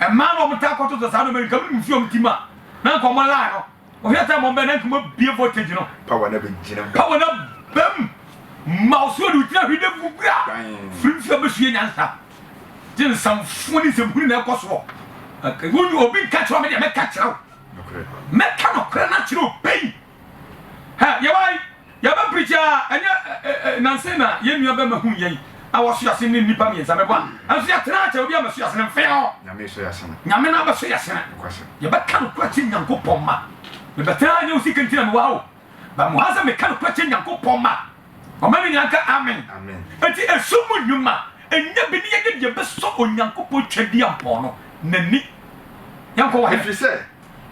Mmaa na wɔn taa kɔtoto saa nneɛma nka me nim fi wɔn ti mu a na nka wɔn line no Ohia sɛ mo bɛ na nkuma bie voltage no. Pa wɔ na bɛ gyina mu. Pa wɔ na bɛ mu. Ma ɔsoro de ogyina hwi dɛ vugura. Firi nso abɛsua nyansa. Gye nsamfoɔ ne nsɛmhunu na ɛkɔ soɔ. Wonyi obi nka kyerɛ me deɛ mɛka kyerɛ wo. Mɛka nɔkorɛ no akyerɛ obɛyi. Ha yɛwɔ Yɛaba bridge a ɛnyɛ nanse na yɛn nua bɛma hu yɛn a wɔso yɛn asene ne nnipa mmiɛnsa mɛbɔ a nanso yɛtena akyɛ obi a mɛso yɛn asene mfeɛɔ Nyame na abɛso yɛn asene yɛbɛka nokorɛ akyerɛ Nyankopɔn mma mebɛtena ha nyɛ wo sika nti na mewɔ ha o but mo ha sɛ meka nokorɛ akyerɛ Nyankopɔn mma ɔma no nyinaa nka amen enti ɛso mu nnwuma ɛnyɛ bi ne yɛyɛ deɛ bɛsɔ Onyankopɔn twɛdeɛ mpɔn no n'ani yɛnkɔ wɔ he ɛfiri sɛ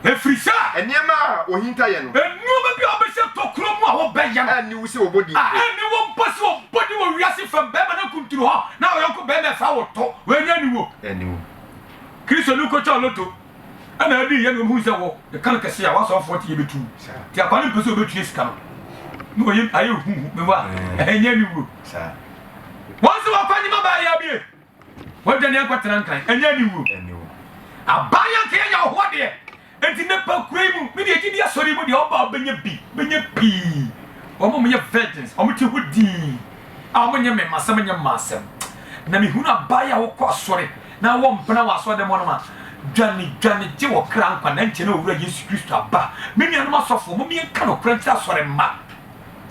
Ɛfiri sɛ. Nneɛma a wɔhinta yɛ no. Nneɛma bi a wɔbɛhyɛ tokuro mu a wɔbɛyɛ no. A ɛnni wo sɛ wɔbɔ din mpo. A ɛnni wo mpo sɛ wɔbɔ din wɔ wiase fam barima no akuntunu hɔ na wo yɔnko barima ɛfa wo to. Wei deɛ ɛnni wo. Ɛnni wo. Kristoni kɔtwaa loto ɛna ɛdii yɛ na wɔhunu sɛ wɔ ne kan kɛse a w'asɔfoɔ te yɛ bɛtu wo. Nti akwa no mpɛ sɛ wɔbɛtua sika no. Na wɔyɛ ayɛ huhu. Mewa. Ɛnyɛ ɛnni wuo. Wɔn sɛ wɔkɔ nyema baa yɛ abie. Wɔadwane akɔtena Nkan, ɛnyɛ aniwuo. Aban a nka yɛnya wɔ hɔ deɛ. Enti nɛpa kura yi mu, me deɛ gye di asɔre yi mu deɛ ɔba a bɛnya bi, bɛnya pii. Wɔn a wɔyɛ virgins, wɔn te hɔ dinn a wɔn nyɛ mɛma asɛm nyɛ mmaa asɛm. Na me hunu aban yi a wɔkɔ asɔre na wɔ mpena wɔ asɔre dɛm hɔ nom a, dwane, dwane gye wɔ kra nkwa na nkyɛ na owura Yesu Kristo aba. Me nuanom asɔfoɔ, mom yɛnka nokorɛ nkyerɛ asɔre mma.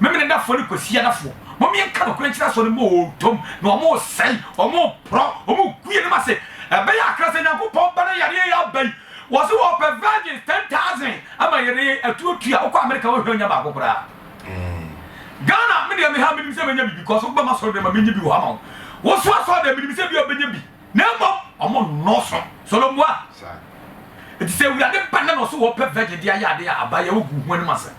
Memenedafo ne Kwasiadafo, mom yɛnka nokorɛ nkyerɛ asɔre mu oo, ntom na wɔn resɛe, wɔn reporɔ, wɔn regu yɛn anim ase, ɛbɛyɛ akra sɛ Nyankopɔn ba no yareɛ yi aba yi, wɔse wɔpɛ virgins ten thousand ama yareɛ yi atu atu a, wokɔ America wohwɛ ɔnya baako koraa, Ghana medeɛ meha menim sɛ mɛnya biribi, kɔso bɛma asɔre dɛm a mɛnya bi wɔ ha ama wo, woso asɔre dɛm menim sɛ ebia wobɛnya bi. Na mmom wɔn nnɔɔso. Solomua, enti sɛ Awurade ba na na ɔso wɔ pɛ virgin de ayɛ ade a, abayɛ wo gu ho anim asɛ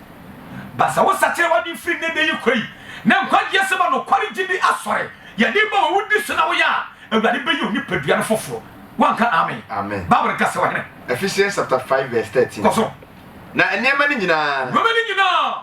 ba sɛ wo sakyera w'adwen firi nnɛ da yi kɔ yi na nkwagye asɛm a nokware gyidi asɔre yɛ de ma wɔ wo di so na woyɛ a Awurade bɛyɛ onipadua no foforo wanka amen amen Bible ka sɛ ɔhene Ephesians chapter 5 verse 13 kɔ so na nneɛma no nyinaa nneɛma no nyinaa.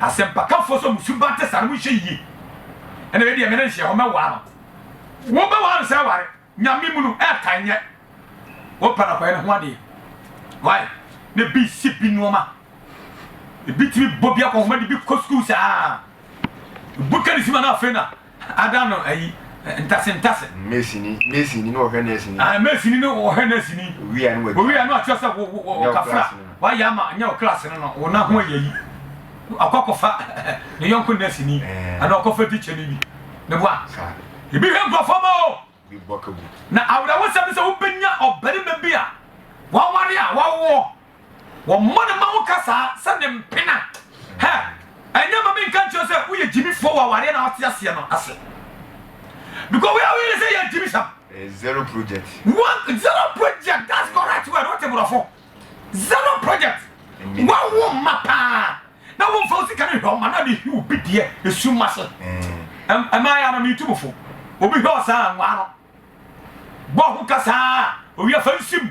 Asɛmpakafo so mo suban te saa no monhwɛ yiye ɛna me deɛ me ne nhyɛ hɔ mɛwaa no wo bɛ waa no sɛ ware nyame mu no ɛɛtan nyɛ wo pɛ na kɔyɛ ne ho adeɛ why ne bi si bi nnoɔma ebi tumi bɔ bi akɔ homa de bi kɔ sukuu saa ebu ka ne sima no afei na Ada no ayi, ntase ntase. Mesini, mesini ne ɔhwɛ nɛsini. Ae, mesini ne ɔhwɛ nɛsini. Owia ne w'agya. Owia ne ɔkyerɛ sɛ wo, wo, wo kafra. W'ayɛ ama, nyɛ wo klaase no no, wo nan ho ayɛ yi. Ɔkɔ akɔfa ne yɔnko nɛsini, anaa ɔkɔfa tikya ni bi. Meboa? Saa. Ebi hwɛ nkurɔfoɔ ma o. Na awerɛhosɛm ne sɛ wobɛnya ɔbarima bi a waware a wawoɔ, wɔmmɔ ne ma wo ka saa sɛ ne mpena. Hɛ! Ɛnyɛ ma menka nkyerɛ wo sɛ woyɛ gyimifoɔ wɔ awareɛ no a wote aseɛ no ase. Because wei a woyɛ no sɛ yɛ agyimisɛm. Zero project. One zero project that's correct word wote borɔfo. Zero project wa wo mma paa na wo nfa osika ne hwɛ ɔma na de hiw bi deɛ esu ma se ɛmaa ya na mi tu bufo obi hwɛ ɔsaa nwa no bɔ ho kasaa owi afa nsim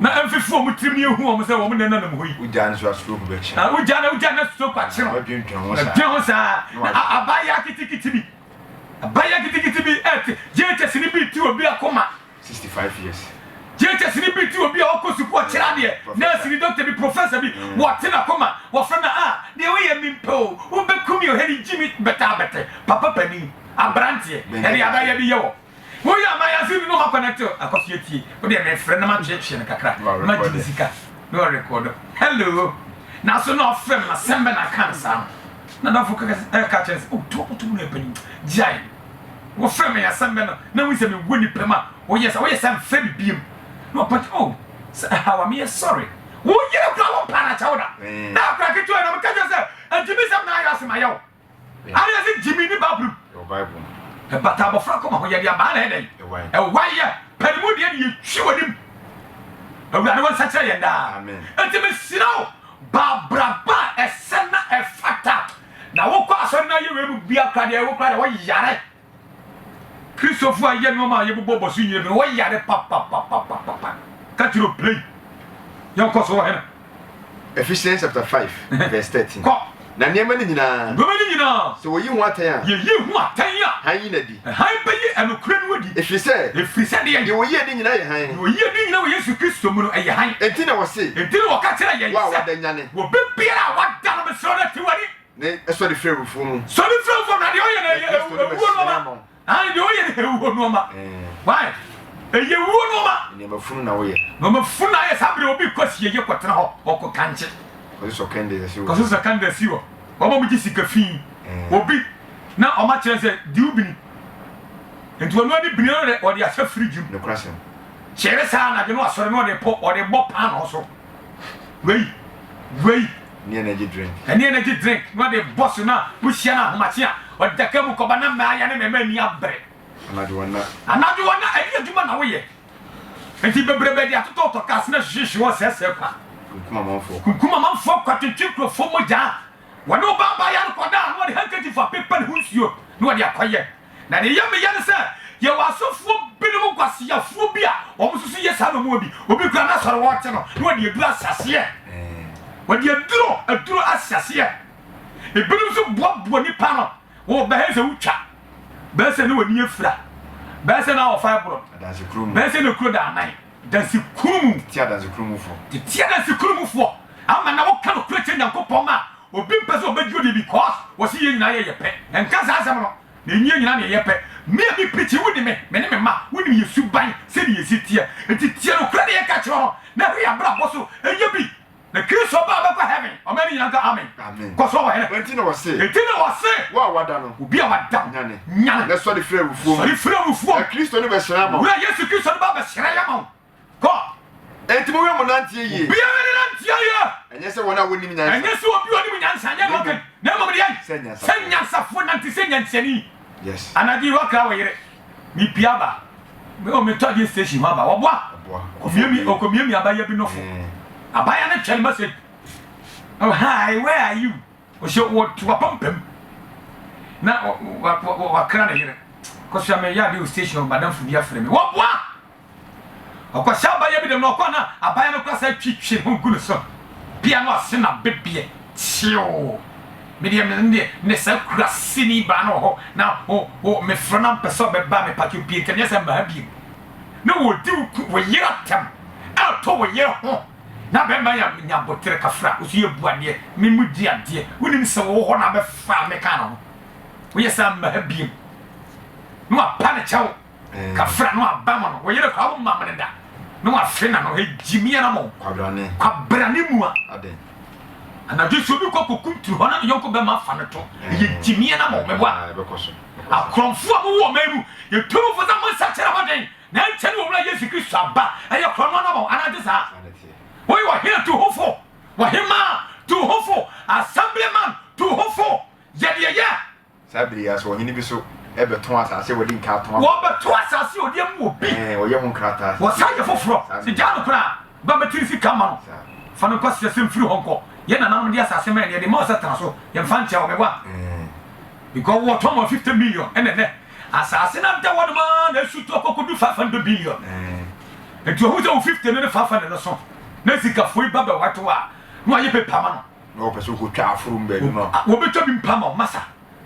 na ɛmfefe wɔn tirim ne ehu wɔn sɛ wɔn nna nanam hɔ yi. wogya no so asuro ko bɛkyi. na wogya na wogya na asuro ko akyi no. wadwintwan ho saa. dwen ho saa. na abayewa kitikiti bi abayewa kitikiti bi ɛte gyekye sini bi ti obi akoma Sixty five years. JHS ni bi te obi a ɔkɔ sukuu ɔkyerɛ adeɛ, nɛɛse ni, dɔkta bi, professor bi, wɔte n'akoma, wɔfrɛ no a, deɛ woyɛ mempɛ o, wobɛku me o, hɛ ni Jimmy bɛtɛ abɛtɛ, papa panin, abranteɛ, ɛdeɛ ada yɛ bi yɛ wɔ, woyɛ a mayɛ ase ni na ɔma connect o, akɔ so atie, wodeɛ mefrɛ na matweetwee no kakra, ma Jimmy sika, na ɔrekɔɔdo, hello, nanso na ɔfrɛ me, asɛm bɛ na aka no saa no, na adamfo kɛkɛ ɛka kyerɛ no sɛ, oh, to, to mu na yɛ panin, gyae. Wofrɛ me asɛm bɛn no na wohu sɛ me wɔ nipam a woyɛ sa woyɛ sa mfrɛ me biem na ɔpɛ oh sɛ ɛhaw a meyɛ sorry wo yere kora wo mpa no akyɛ wo da na akora ketewa na meka kyɛ sɛ agyimi sɛm na ayɛ ase ma yɛ wo ana ɛsɛ gyimi ne babrom ɛbata abɔfra kɔma ho yɛde abaa na ɛdɛ yi ɛwa yɛ pɛne mu deɛ ne yɛtwi w'anim awurade wo nsa kyerɛ yɛn daa ɛnti mesira wo baabraba ɛsɛ na ɛfata Na wokɔ asɔre na yɛ wei mu bia kora deɛ wo kora deɛ wo yare Christofo a yɛ nnoɔma a yɛbobɔ bɔ so nyina bi no wo yare papapapapapa ka kyerɛ o play yɛn kɔ so wɔ hena. Ephesians chapter five verse thirteen. Kɔ. Na nneɛma no nyinaa. Nneɛma no nyinaa. Sɛ wɔyi ho atɛn a. Yɛyi ho atɛn a. Hann yi no adi. Hann bɛyi anokorɛ no adi. Ɛfiri sɛ. Ɛfiri sɛ deɛn. Deɛ ɔyi adi nyinaa yɛ hann. Deɛ ɔyi adi nyinaa wɔ Yesu Kristo mu no, ɛyɛ hann. Enti na ɔse. Enti na ɔka kyerɛɛ yɛn sɛ. Wo a wada nyane. Wɔ bɛ biara a wada no mesrɛ wo na te w'ani. Ne sɔre firi awufoɔ mu. Sɔre firi awufoɔ mu na deɛ ɔyɛ no ɛyɛ awuo nnoɔma. Aane, deɛ ɔyɛ no awuo nnoɔma. Why? Ɛyɛ awuo nnoɔma. Nnoɔma funu na woyɛ. Nnoɔma funu na ayɛ saa berɛ obi kɔ asieyɛ kɔtena hɔ ɔkɔ kankye. Kɔsosɔ kɛndɛs wɔ. Kɔsosɔ kɛndɛs wɔ. Wɔn a wɔgye sika fi. Obi. Na ɔma kyerɛ sɛ diw bini. Enti ɔno ani bini no de ɔde ahyɛ fridge mu. Nokwasɛm. Kyere saa anadwo no asɔre na ɔde pɔ ɔde bɔ paanoo so. Wei. Wei. Ne energy drink. Ne energy drink na ɔde bɔ so na wohyia no ahomakye a ɔde da ka mu kɔba na mmaa ya ne mmarima ani abere. Anadwo ɔna. Anadwo ɔna ɛne adwuma na woyɛ. Enti bebrebe de atotɔ tɔ cars na hwehwehwe wɔn sɛɛsɛɛ kwa. Kunkum amanfoɔ. Kunkum amanfoɔ kwa twetwe nkurɔfoɔ mogyaa. Wɔde ɔbaa baeɛ no kɔdaa na wɔde handkerchief apepa ne ho nsuo na wɔde akɔyɛ. Na deɛ ɛyɛ me ya ne sɛ, yɛwɔ asɔfoɔ binom nkwaseafoɔ bi a wɔn nso so yɛ saa na wɔn wɔ bi. Obi koraa n'asɔre hɔ te no na wɔde aduro ahyɛ aseɛ. Wɔde aduro aduro ahyɛ aseɛ. Ebinom nso boaboa nipa no wɔ bɛyɛ sɛ wotwa, bɛyɛ sɛ na wɔn ani afira, bɛyɛ sɛ na wɔfa ɛboro, bɛyɛ sɛ na kuro da anan. Adansekuo mu. Tete Adansekuo mufoɔ. Tete Adansekuo mufoɔ. Ama na woka nokorɛ kyerɛ Nyankopɔn ma obi mpɛ sɛ ɔbɛgye ɔdie because wɔse yɛn nyinaa yɛ yɛ pɛ. Ɛnka saa asɛm no. Na ɛnyɛ yɛn nyinaa na yɛyɛ pɛ. Me a me preachi wo nim me, me ne me mma wonim yɛn suban sɛdeɛ yɛsi teɛ. Nti tie nokorɛ na yɛka kyerɛ wo no na hwɛ yɛn abrabɔ so yɛ bi. Na Kristo ba bɛkɔ heaven. Ɔman no nyinaa nka amen. Amen. Kɔ so, Ɔhene. Enti na wɔse. Enti na wɔse. Wo a wɔada no. Obi a wɔada no. Nyane. Nyane. Na sɔre firi awufoɔ mu. Sɔre firi awufoɔ mu. Na Kristo no bɛhyerɛn ama wo. Owura Yesu Kristo no ba bɛhyerɛn ama wo. Kɔ. Enti monhwɛ mo nanteɛ yie. Obiara ne nanteɛ yie. Ɛnyɛ sɛ wɔn a wɔnnim nyansa. Ɛnyɛ sɛ obi a ɔnim nyansa. Ɛnyɛ deɛ ɔka yi. Na mmom deɛn? Sɛ nyansafoɔ. Sɛ nyansafoɔ nante sɛ nyansani. Yes. Anadwo yi woakra wo yere. Me pie aba me o me tɔ adeɛ station hɔ aba ɔboa ɔkɔ miamia abaya bi nofo abaya no twɛn message hi where are you ɔhyɛ wɔto apampam na wakra ne yere kɔsua me yɛ adeɛ o station ɔbadamfo bi afrɛ me wɔboa Ɔkɔhyɛ abayɛ bi dɛm na ɔkɔ na abayɛ no koraa san twitwi ho gu ne so pia no ase na bebeɛ tseew. Me deɛ me deɛ ne saa kuraseni baa no wɔ hɔ na o o mefrɛ no a mpɛ sɛ ɔbɛba me pakyɛw pie nka nyɛ sɛ mmaa biem na wɔdi wo ku wo yere atɛm ɛɛtɔ wo yere ho na bɛrima yɛ nya abotere kafra wo so yɛ bu adeɛ me mu di adeɛ wonim sɛ wɔwɔ hɔ na abɛfa me kaa no ho woyɛ saa mmaa biem na wapa ne kyɛw Kafra no aba mo no, wo yere kora wo ma mene da, na wafe na no hegye mi ara mo. Kwabrane. Kwabrane mu a. Aden. Anadwo so obi kɔ kokum tiri hɔ na ne yɔnko bɛma afa no to, ɛyɛ gye mi ara mo mɛboa. Akorɔmfo a mo wɔ ɔman mu, yɛ tumfo sɛ mo nsa kyerɛ ho den, na ɛnkyɛ ne wɔ Wura Yesu Kristo aba, ɛyɛ korɔno ara mo, anaa ɛnte saa? Wo yɛ ɔhene tuhofo, ɔhemaa tuhofo, assemblyman tuhofo, yɛ deɛ yɛ. Saa bere yi ara so, ɔhene bi nso bɛtɔn asase a wɔde nkaa tɔn. Wɔbɛto asase a ɔde amu wɔ bi. Ɛɛ, wɔyɛ ho nkrataa sɛ. Wɔsan yɛ foforɔ. Saa Sɛ ne. gyaa no koraa, ba bɛtiri sika ma no. Saa. Fa no kɔ serɛ sɛ mfiri hɔ nkɔ. Yɛn nananom de asase ma yɛn na yɛde ma wo sɛ tena so. Yɛmfa nkyɛ wo, me ba. Ɛɛ. Because wɔtɔn ma wo fifty million, ɛna ɛnnɛ, asase no ada hɔnom ara na asutu akɔkɔdu five hundred billion. Ɛɛ. Enti ɔhu sɛ wo fifty no ne five hundred no so, na sikafoɔ yi ba bɛwɛto a, na wɔayɛ paper ama no. Na wɔpɛ sɛ wɔkɔtwa afurum baanu no a. Wɔbɛtwa bi mpa ma wo. Masa,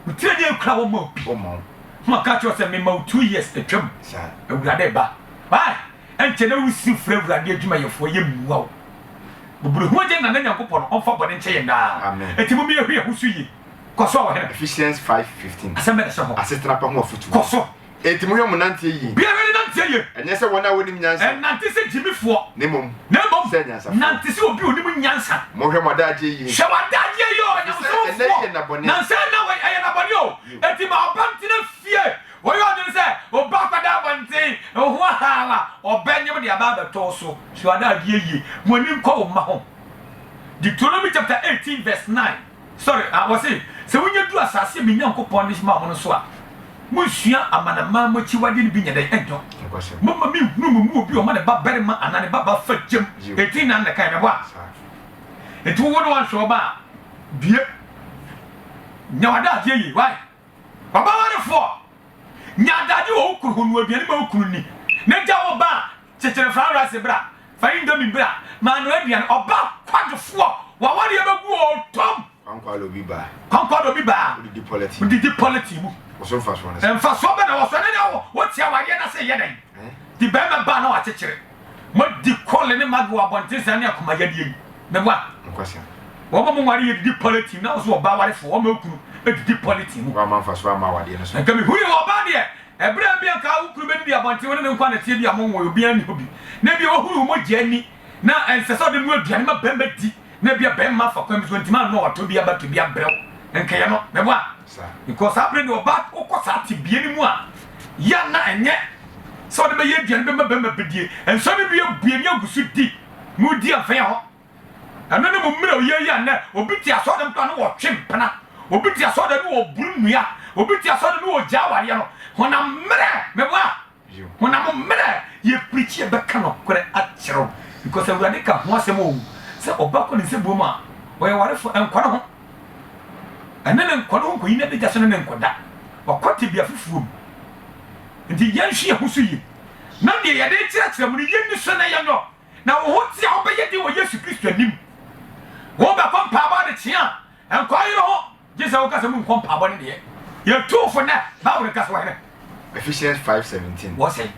wo tiri ani akura a wɔmma wo bi. Wɔmma wo. Na wɔka kyerɛ wo sɛ, Mema wo two years atwam. Saa. Awurade reba. Why? Ɛnkyɛ na wosiri frɛ Awurade adwumayɛfoɔ, yɛ mmua wo. Mmɔborɔhunu Agya nyinaa no Nyankopɔn, ɔmfa bɔne nkyɛ yɛn daa. Amen. Enti momma yɛhu yɛn ho so yie. Kɔ so, Ɔhene. Ephesians five fifteen. Asɛm bɛn na ɛhyɛ hɔ? Asetena pa ho afotuo. Kɔ so. Enti monhwɛ mo nanteɛ yie. Biara ne nanteɛ yie. Ɛnyɛ sɛ wɔn a wɔnim nyansa. Ɛnnante sɛ gyimifoɔ. Na mmom, na mmom, sɛ anyansafoɔ. Nante sɛ obi a ɔnim nyansa. Monhwɛ mo adagyeɛ yie. Hwɛ w'adagyeɛ yie o, Onyamesom foɔ. Efisɛ ɛnnɛ yi yɛ nna bɔne. Nansa yi nna wei, ɛyɛ nna bɔne o. Enti ma ɔba ntena fie. Wɔyɛ ɔdwene sɛ, ɔba akɔda abɔnten, wo ho ahaw a, ɔbɛnyem de aba abɛtɔ wo so. Hwɛ w'adagyeɛ yie. Mo ani nkɔ wo mma ho. Deuteronomy chapter eighteen verse nine. Sɔre, na wɔse, Sɛ wonya du asase a me Nyankopɔn de maa mo no so a, monsua amanaman mu akyiwadeɛ no bi nyɛ dɛn ntɔ. Momma menhunu mo mu obi a ɔma ne ba barima anaa ne ba ba fa gyam. Enti na ne kan bɛbɔ a enti wowo no anhwɛ wo ba a, due. Nya w'adagyeɛ yie. Wai, w'abawarefoɔ, nya adagyeɛ wɔ wo kunu ho, noa aduane ma wo kunu nni, na gya wo ba a Kyekyere fa rice bra, fa indomie bra, maanoa aduane, ɔba kwadwofoɔ w'awadeɛ bɛgu oo tom. Kwankwa de obi baa. Kwankwa de obi baa. Wode di pɔlɛtin. Wode di pɔlɛtin mu. Wɔso mfasoɔ no sɛ. Mfasoɔ bɛ na wɔso ne na wɔte awadeɛ no ase yɛ dɛn. Ti bɛrima baa na wakyekyere. Modi kɔle ne magi wɔ abɔnten saa ne akoma yadeɛ yi. Meboa. Nokwasɛm. Wɔma mo nware yɛ didi pɔlɛtin na wɔso ɔba awarefoɔ wɔma okunu didi pɔlɛtin mu. Wɔama mfasoɔ ama awadeɛ no so. Nka mehuri wɔ ɔbaa deɛ Ɛberɛ bi a anka wo kunu bɛdidi abɔnten, wo ne no nko ara na ɛteɛ, ebia monwoe, obiara nni hɔ bi, na ebia wahunu wo mogya ani, na ɛnsɛ sɛ ɔde noa aduane ma barima di, na ebia barima afa kwan bi so ɔntumi annoa watɔ bi aba to bi abrɛ wo, nkaeɛ no, meboa? Because saa berɛ no deɛ ɔbaa wokɔ saa tebea no mu a, yɛ a na ɛnyɛ sɛ wode bɛyɛ aduane bɛma barima bɛdie, nsɔre no bi abue na agu so di, na wodi a mfa yɛ hɔ. Ɛno ne mo mmerɛw yɛ yi a nnɛ obi te asɔre dɛm koraa ne wɔtwe mpena, obi te asɔre dɛm ne wɔboro nnua, obi te asɔre dɛm ne wɔgyaa awareɛ no. Honam mmerɛ, meboa? Honam mmerɛ, yɛ preachi yɛ bɛka nɔkorɛ akyerɛ wo because Awurade ka ho asɛm oo, sɛ ɔba kɔ ne nsɛbuo mu a ɔyɛ ɔwarefoɔ, ɛnkɔ ne ho, ɛne no nkɔ ne ho nkɔyi n'adagya so ne no nkɔda, wakɔ tebea fufuo mu. Nti yɛnhwe yɛn ho so yie na deɛ yɛde rekyerɛkyerɛ mo no yɛnni so na yɛnyɔ. Na wo ho te a wobɛyɛ den wɔ Yesu Kristo anim. Wobɛkɔ mpaabɔ adekyea a, nkwa yere ho, gye sɛ woka sɛ monkɔ mpaabɔ ne deɛ. Yɛtu fo nɛ, Bible ka sɛ wɔhene. Ephesians five seventeen. Wɔ sɛ.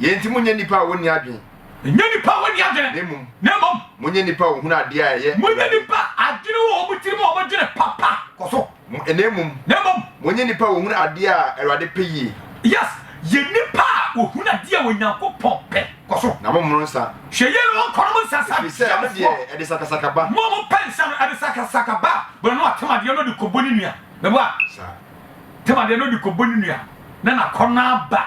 Yei nti monyɛ nnipa a wɔnni adwene. Nyɛ nnipa a wɔnni adwene. Na mmom. Na mmom. Monyɛ nnipa a wɔhunu adeɛ a ɛyɛ. Monyɛ nnipa adwene wɔ wɔn tirim a wɔdwene papa kɔ so. Mo, na mmom. Na mmom. Monyɛ nnipa a wɔhunu adeɛ a Awurade pɛ yie. Yes, yɛ nnipa a wɔhunu adeɛ a Onyankopɔn pɛ. Kɔ so. Na mommono nsã. Hwɛ yie na wɔnkɔ nom nsã saa. Ɛfiri sɛ, ɛno deɛ, ɛde sakasaka ba. Mo a mopɛ nsã no, ɛde sakasaka ba. Berɛ no atem adeɛ na ɔde kɔbɔ ne nua. Meboa? Saa. Tem adeɛ na ɔde kɔbɔ ne nua, na n'akɔnnɔ aba.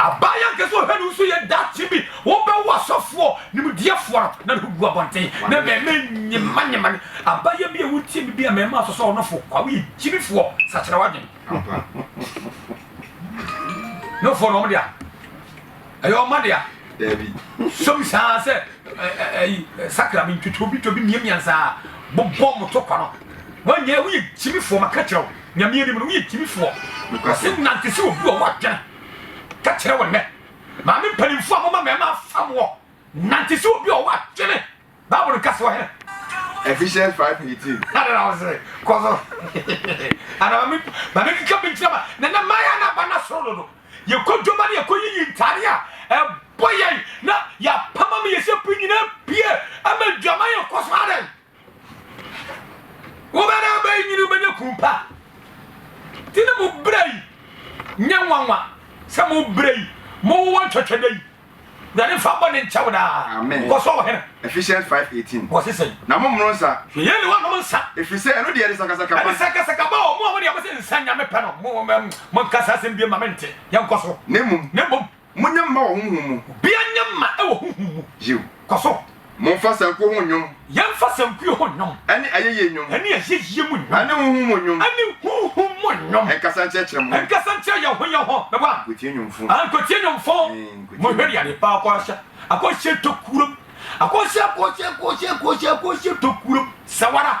Abaayewa kɛse ɔhwɛ no nso yɛ daakye bi wɔbɛwo asɔfoɔ nimdeɛfoɔ no na ne ho gu abɔnten na mmarima nyemanyema no. Abaayewa bi a wontie me bi a mmarima asosɔ no fo kwa, woyɛ gyimifoɔ, sakyera w'adwene. No fo no wɔn dea ɛyɛ ɔma dea. Dabi. Sɔmi saa sɛ ɛyi sakra mi ntwitwi obi twa obi mmiamia nsaa bobɔ mo to kwa no. Wɔnyɛ woyɛ gyimifoɔ maka kyerɛ wo. Nyame anim no woyɛ gyimifoɔ. Nokorɛsem nante se obi wɔ hɔ a dwene ka kyerɛ wo nnɛ. Maame mpaninfoɔ a moma mmarima afa moɔ nante se obi wɔ hɔ a dwene Bible no ka se ɔhene. Ephesians five eighteen. Ada na wo se kɔ so Ada ma me ma me keka bi nkyerɛ ma nana Maya na ba na soro dodo. Yɛkɔ dwoma ne yɛkɔ yiyi ntaade a ɛbɔ yɛn na yɛapam ama yɛse pue nyinaa pue ama dwaman yɛkɔ so adɛn Wobɛda aba yi nyini wobɛnya kunu pa. Ti ne mo berɛ yi nyɛ nwanwa sɛ mo berɛ yi mo wowɔ ntwɛtwɛdɛ yi. Wurade mfa bɔ ne nkyɛw daa. Amen. Kɔ so ɔhene. Ephesians 5:18. Wɔ se sɛn. Na mo mmono nsa. Hwɛ yɛn ne wɔnom nsa. Efiri sɛ ɛno deɛ ɛde sakasaka ba. Ɛde sakasaka ba o. Mo a mo deɛ mo se nsa nyame pɛ no mo mo nkasa asɛm biem ma me nte. Yɛn kɔ so. Ne mmom. Ne mmom. Monyɛ mma wɔ honhom mu. Obia nyɛ mma wɔ honhom mu. Yiw. Kɔ so. Momfa sankuo ho nnwom. Yɛmfa sankuo ho nnwom. Ɛne ayɛyie nnwom. Ɛne ayɛyie mu nnwom. Ɛne honhom mu nnwom. Ɛne honhom mu nnwom. Nkasa nkyerɛkyerɛ mo ho. Nkasa nkyerɛ yɛn ho yɛn ho. Meboa. Nkɔtie nnwomfo. Ah, nkɔtie nnwomfo. Ee, nkɔtie nnwomfo. Monhwɛ deɛ adepa akɔhyɛ, akɔhyɛ tokurom. Akɔhyɛ, akɔhyɛ, akɔhyɛ, akɔhyɛ, akɔhyɛ tokurom. Sɛ wo ara.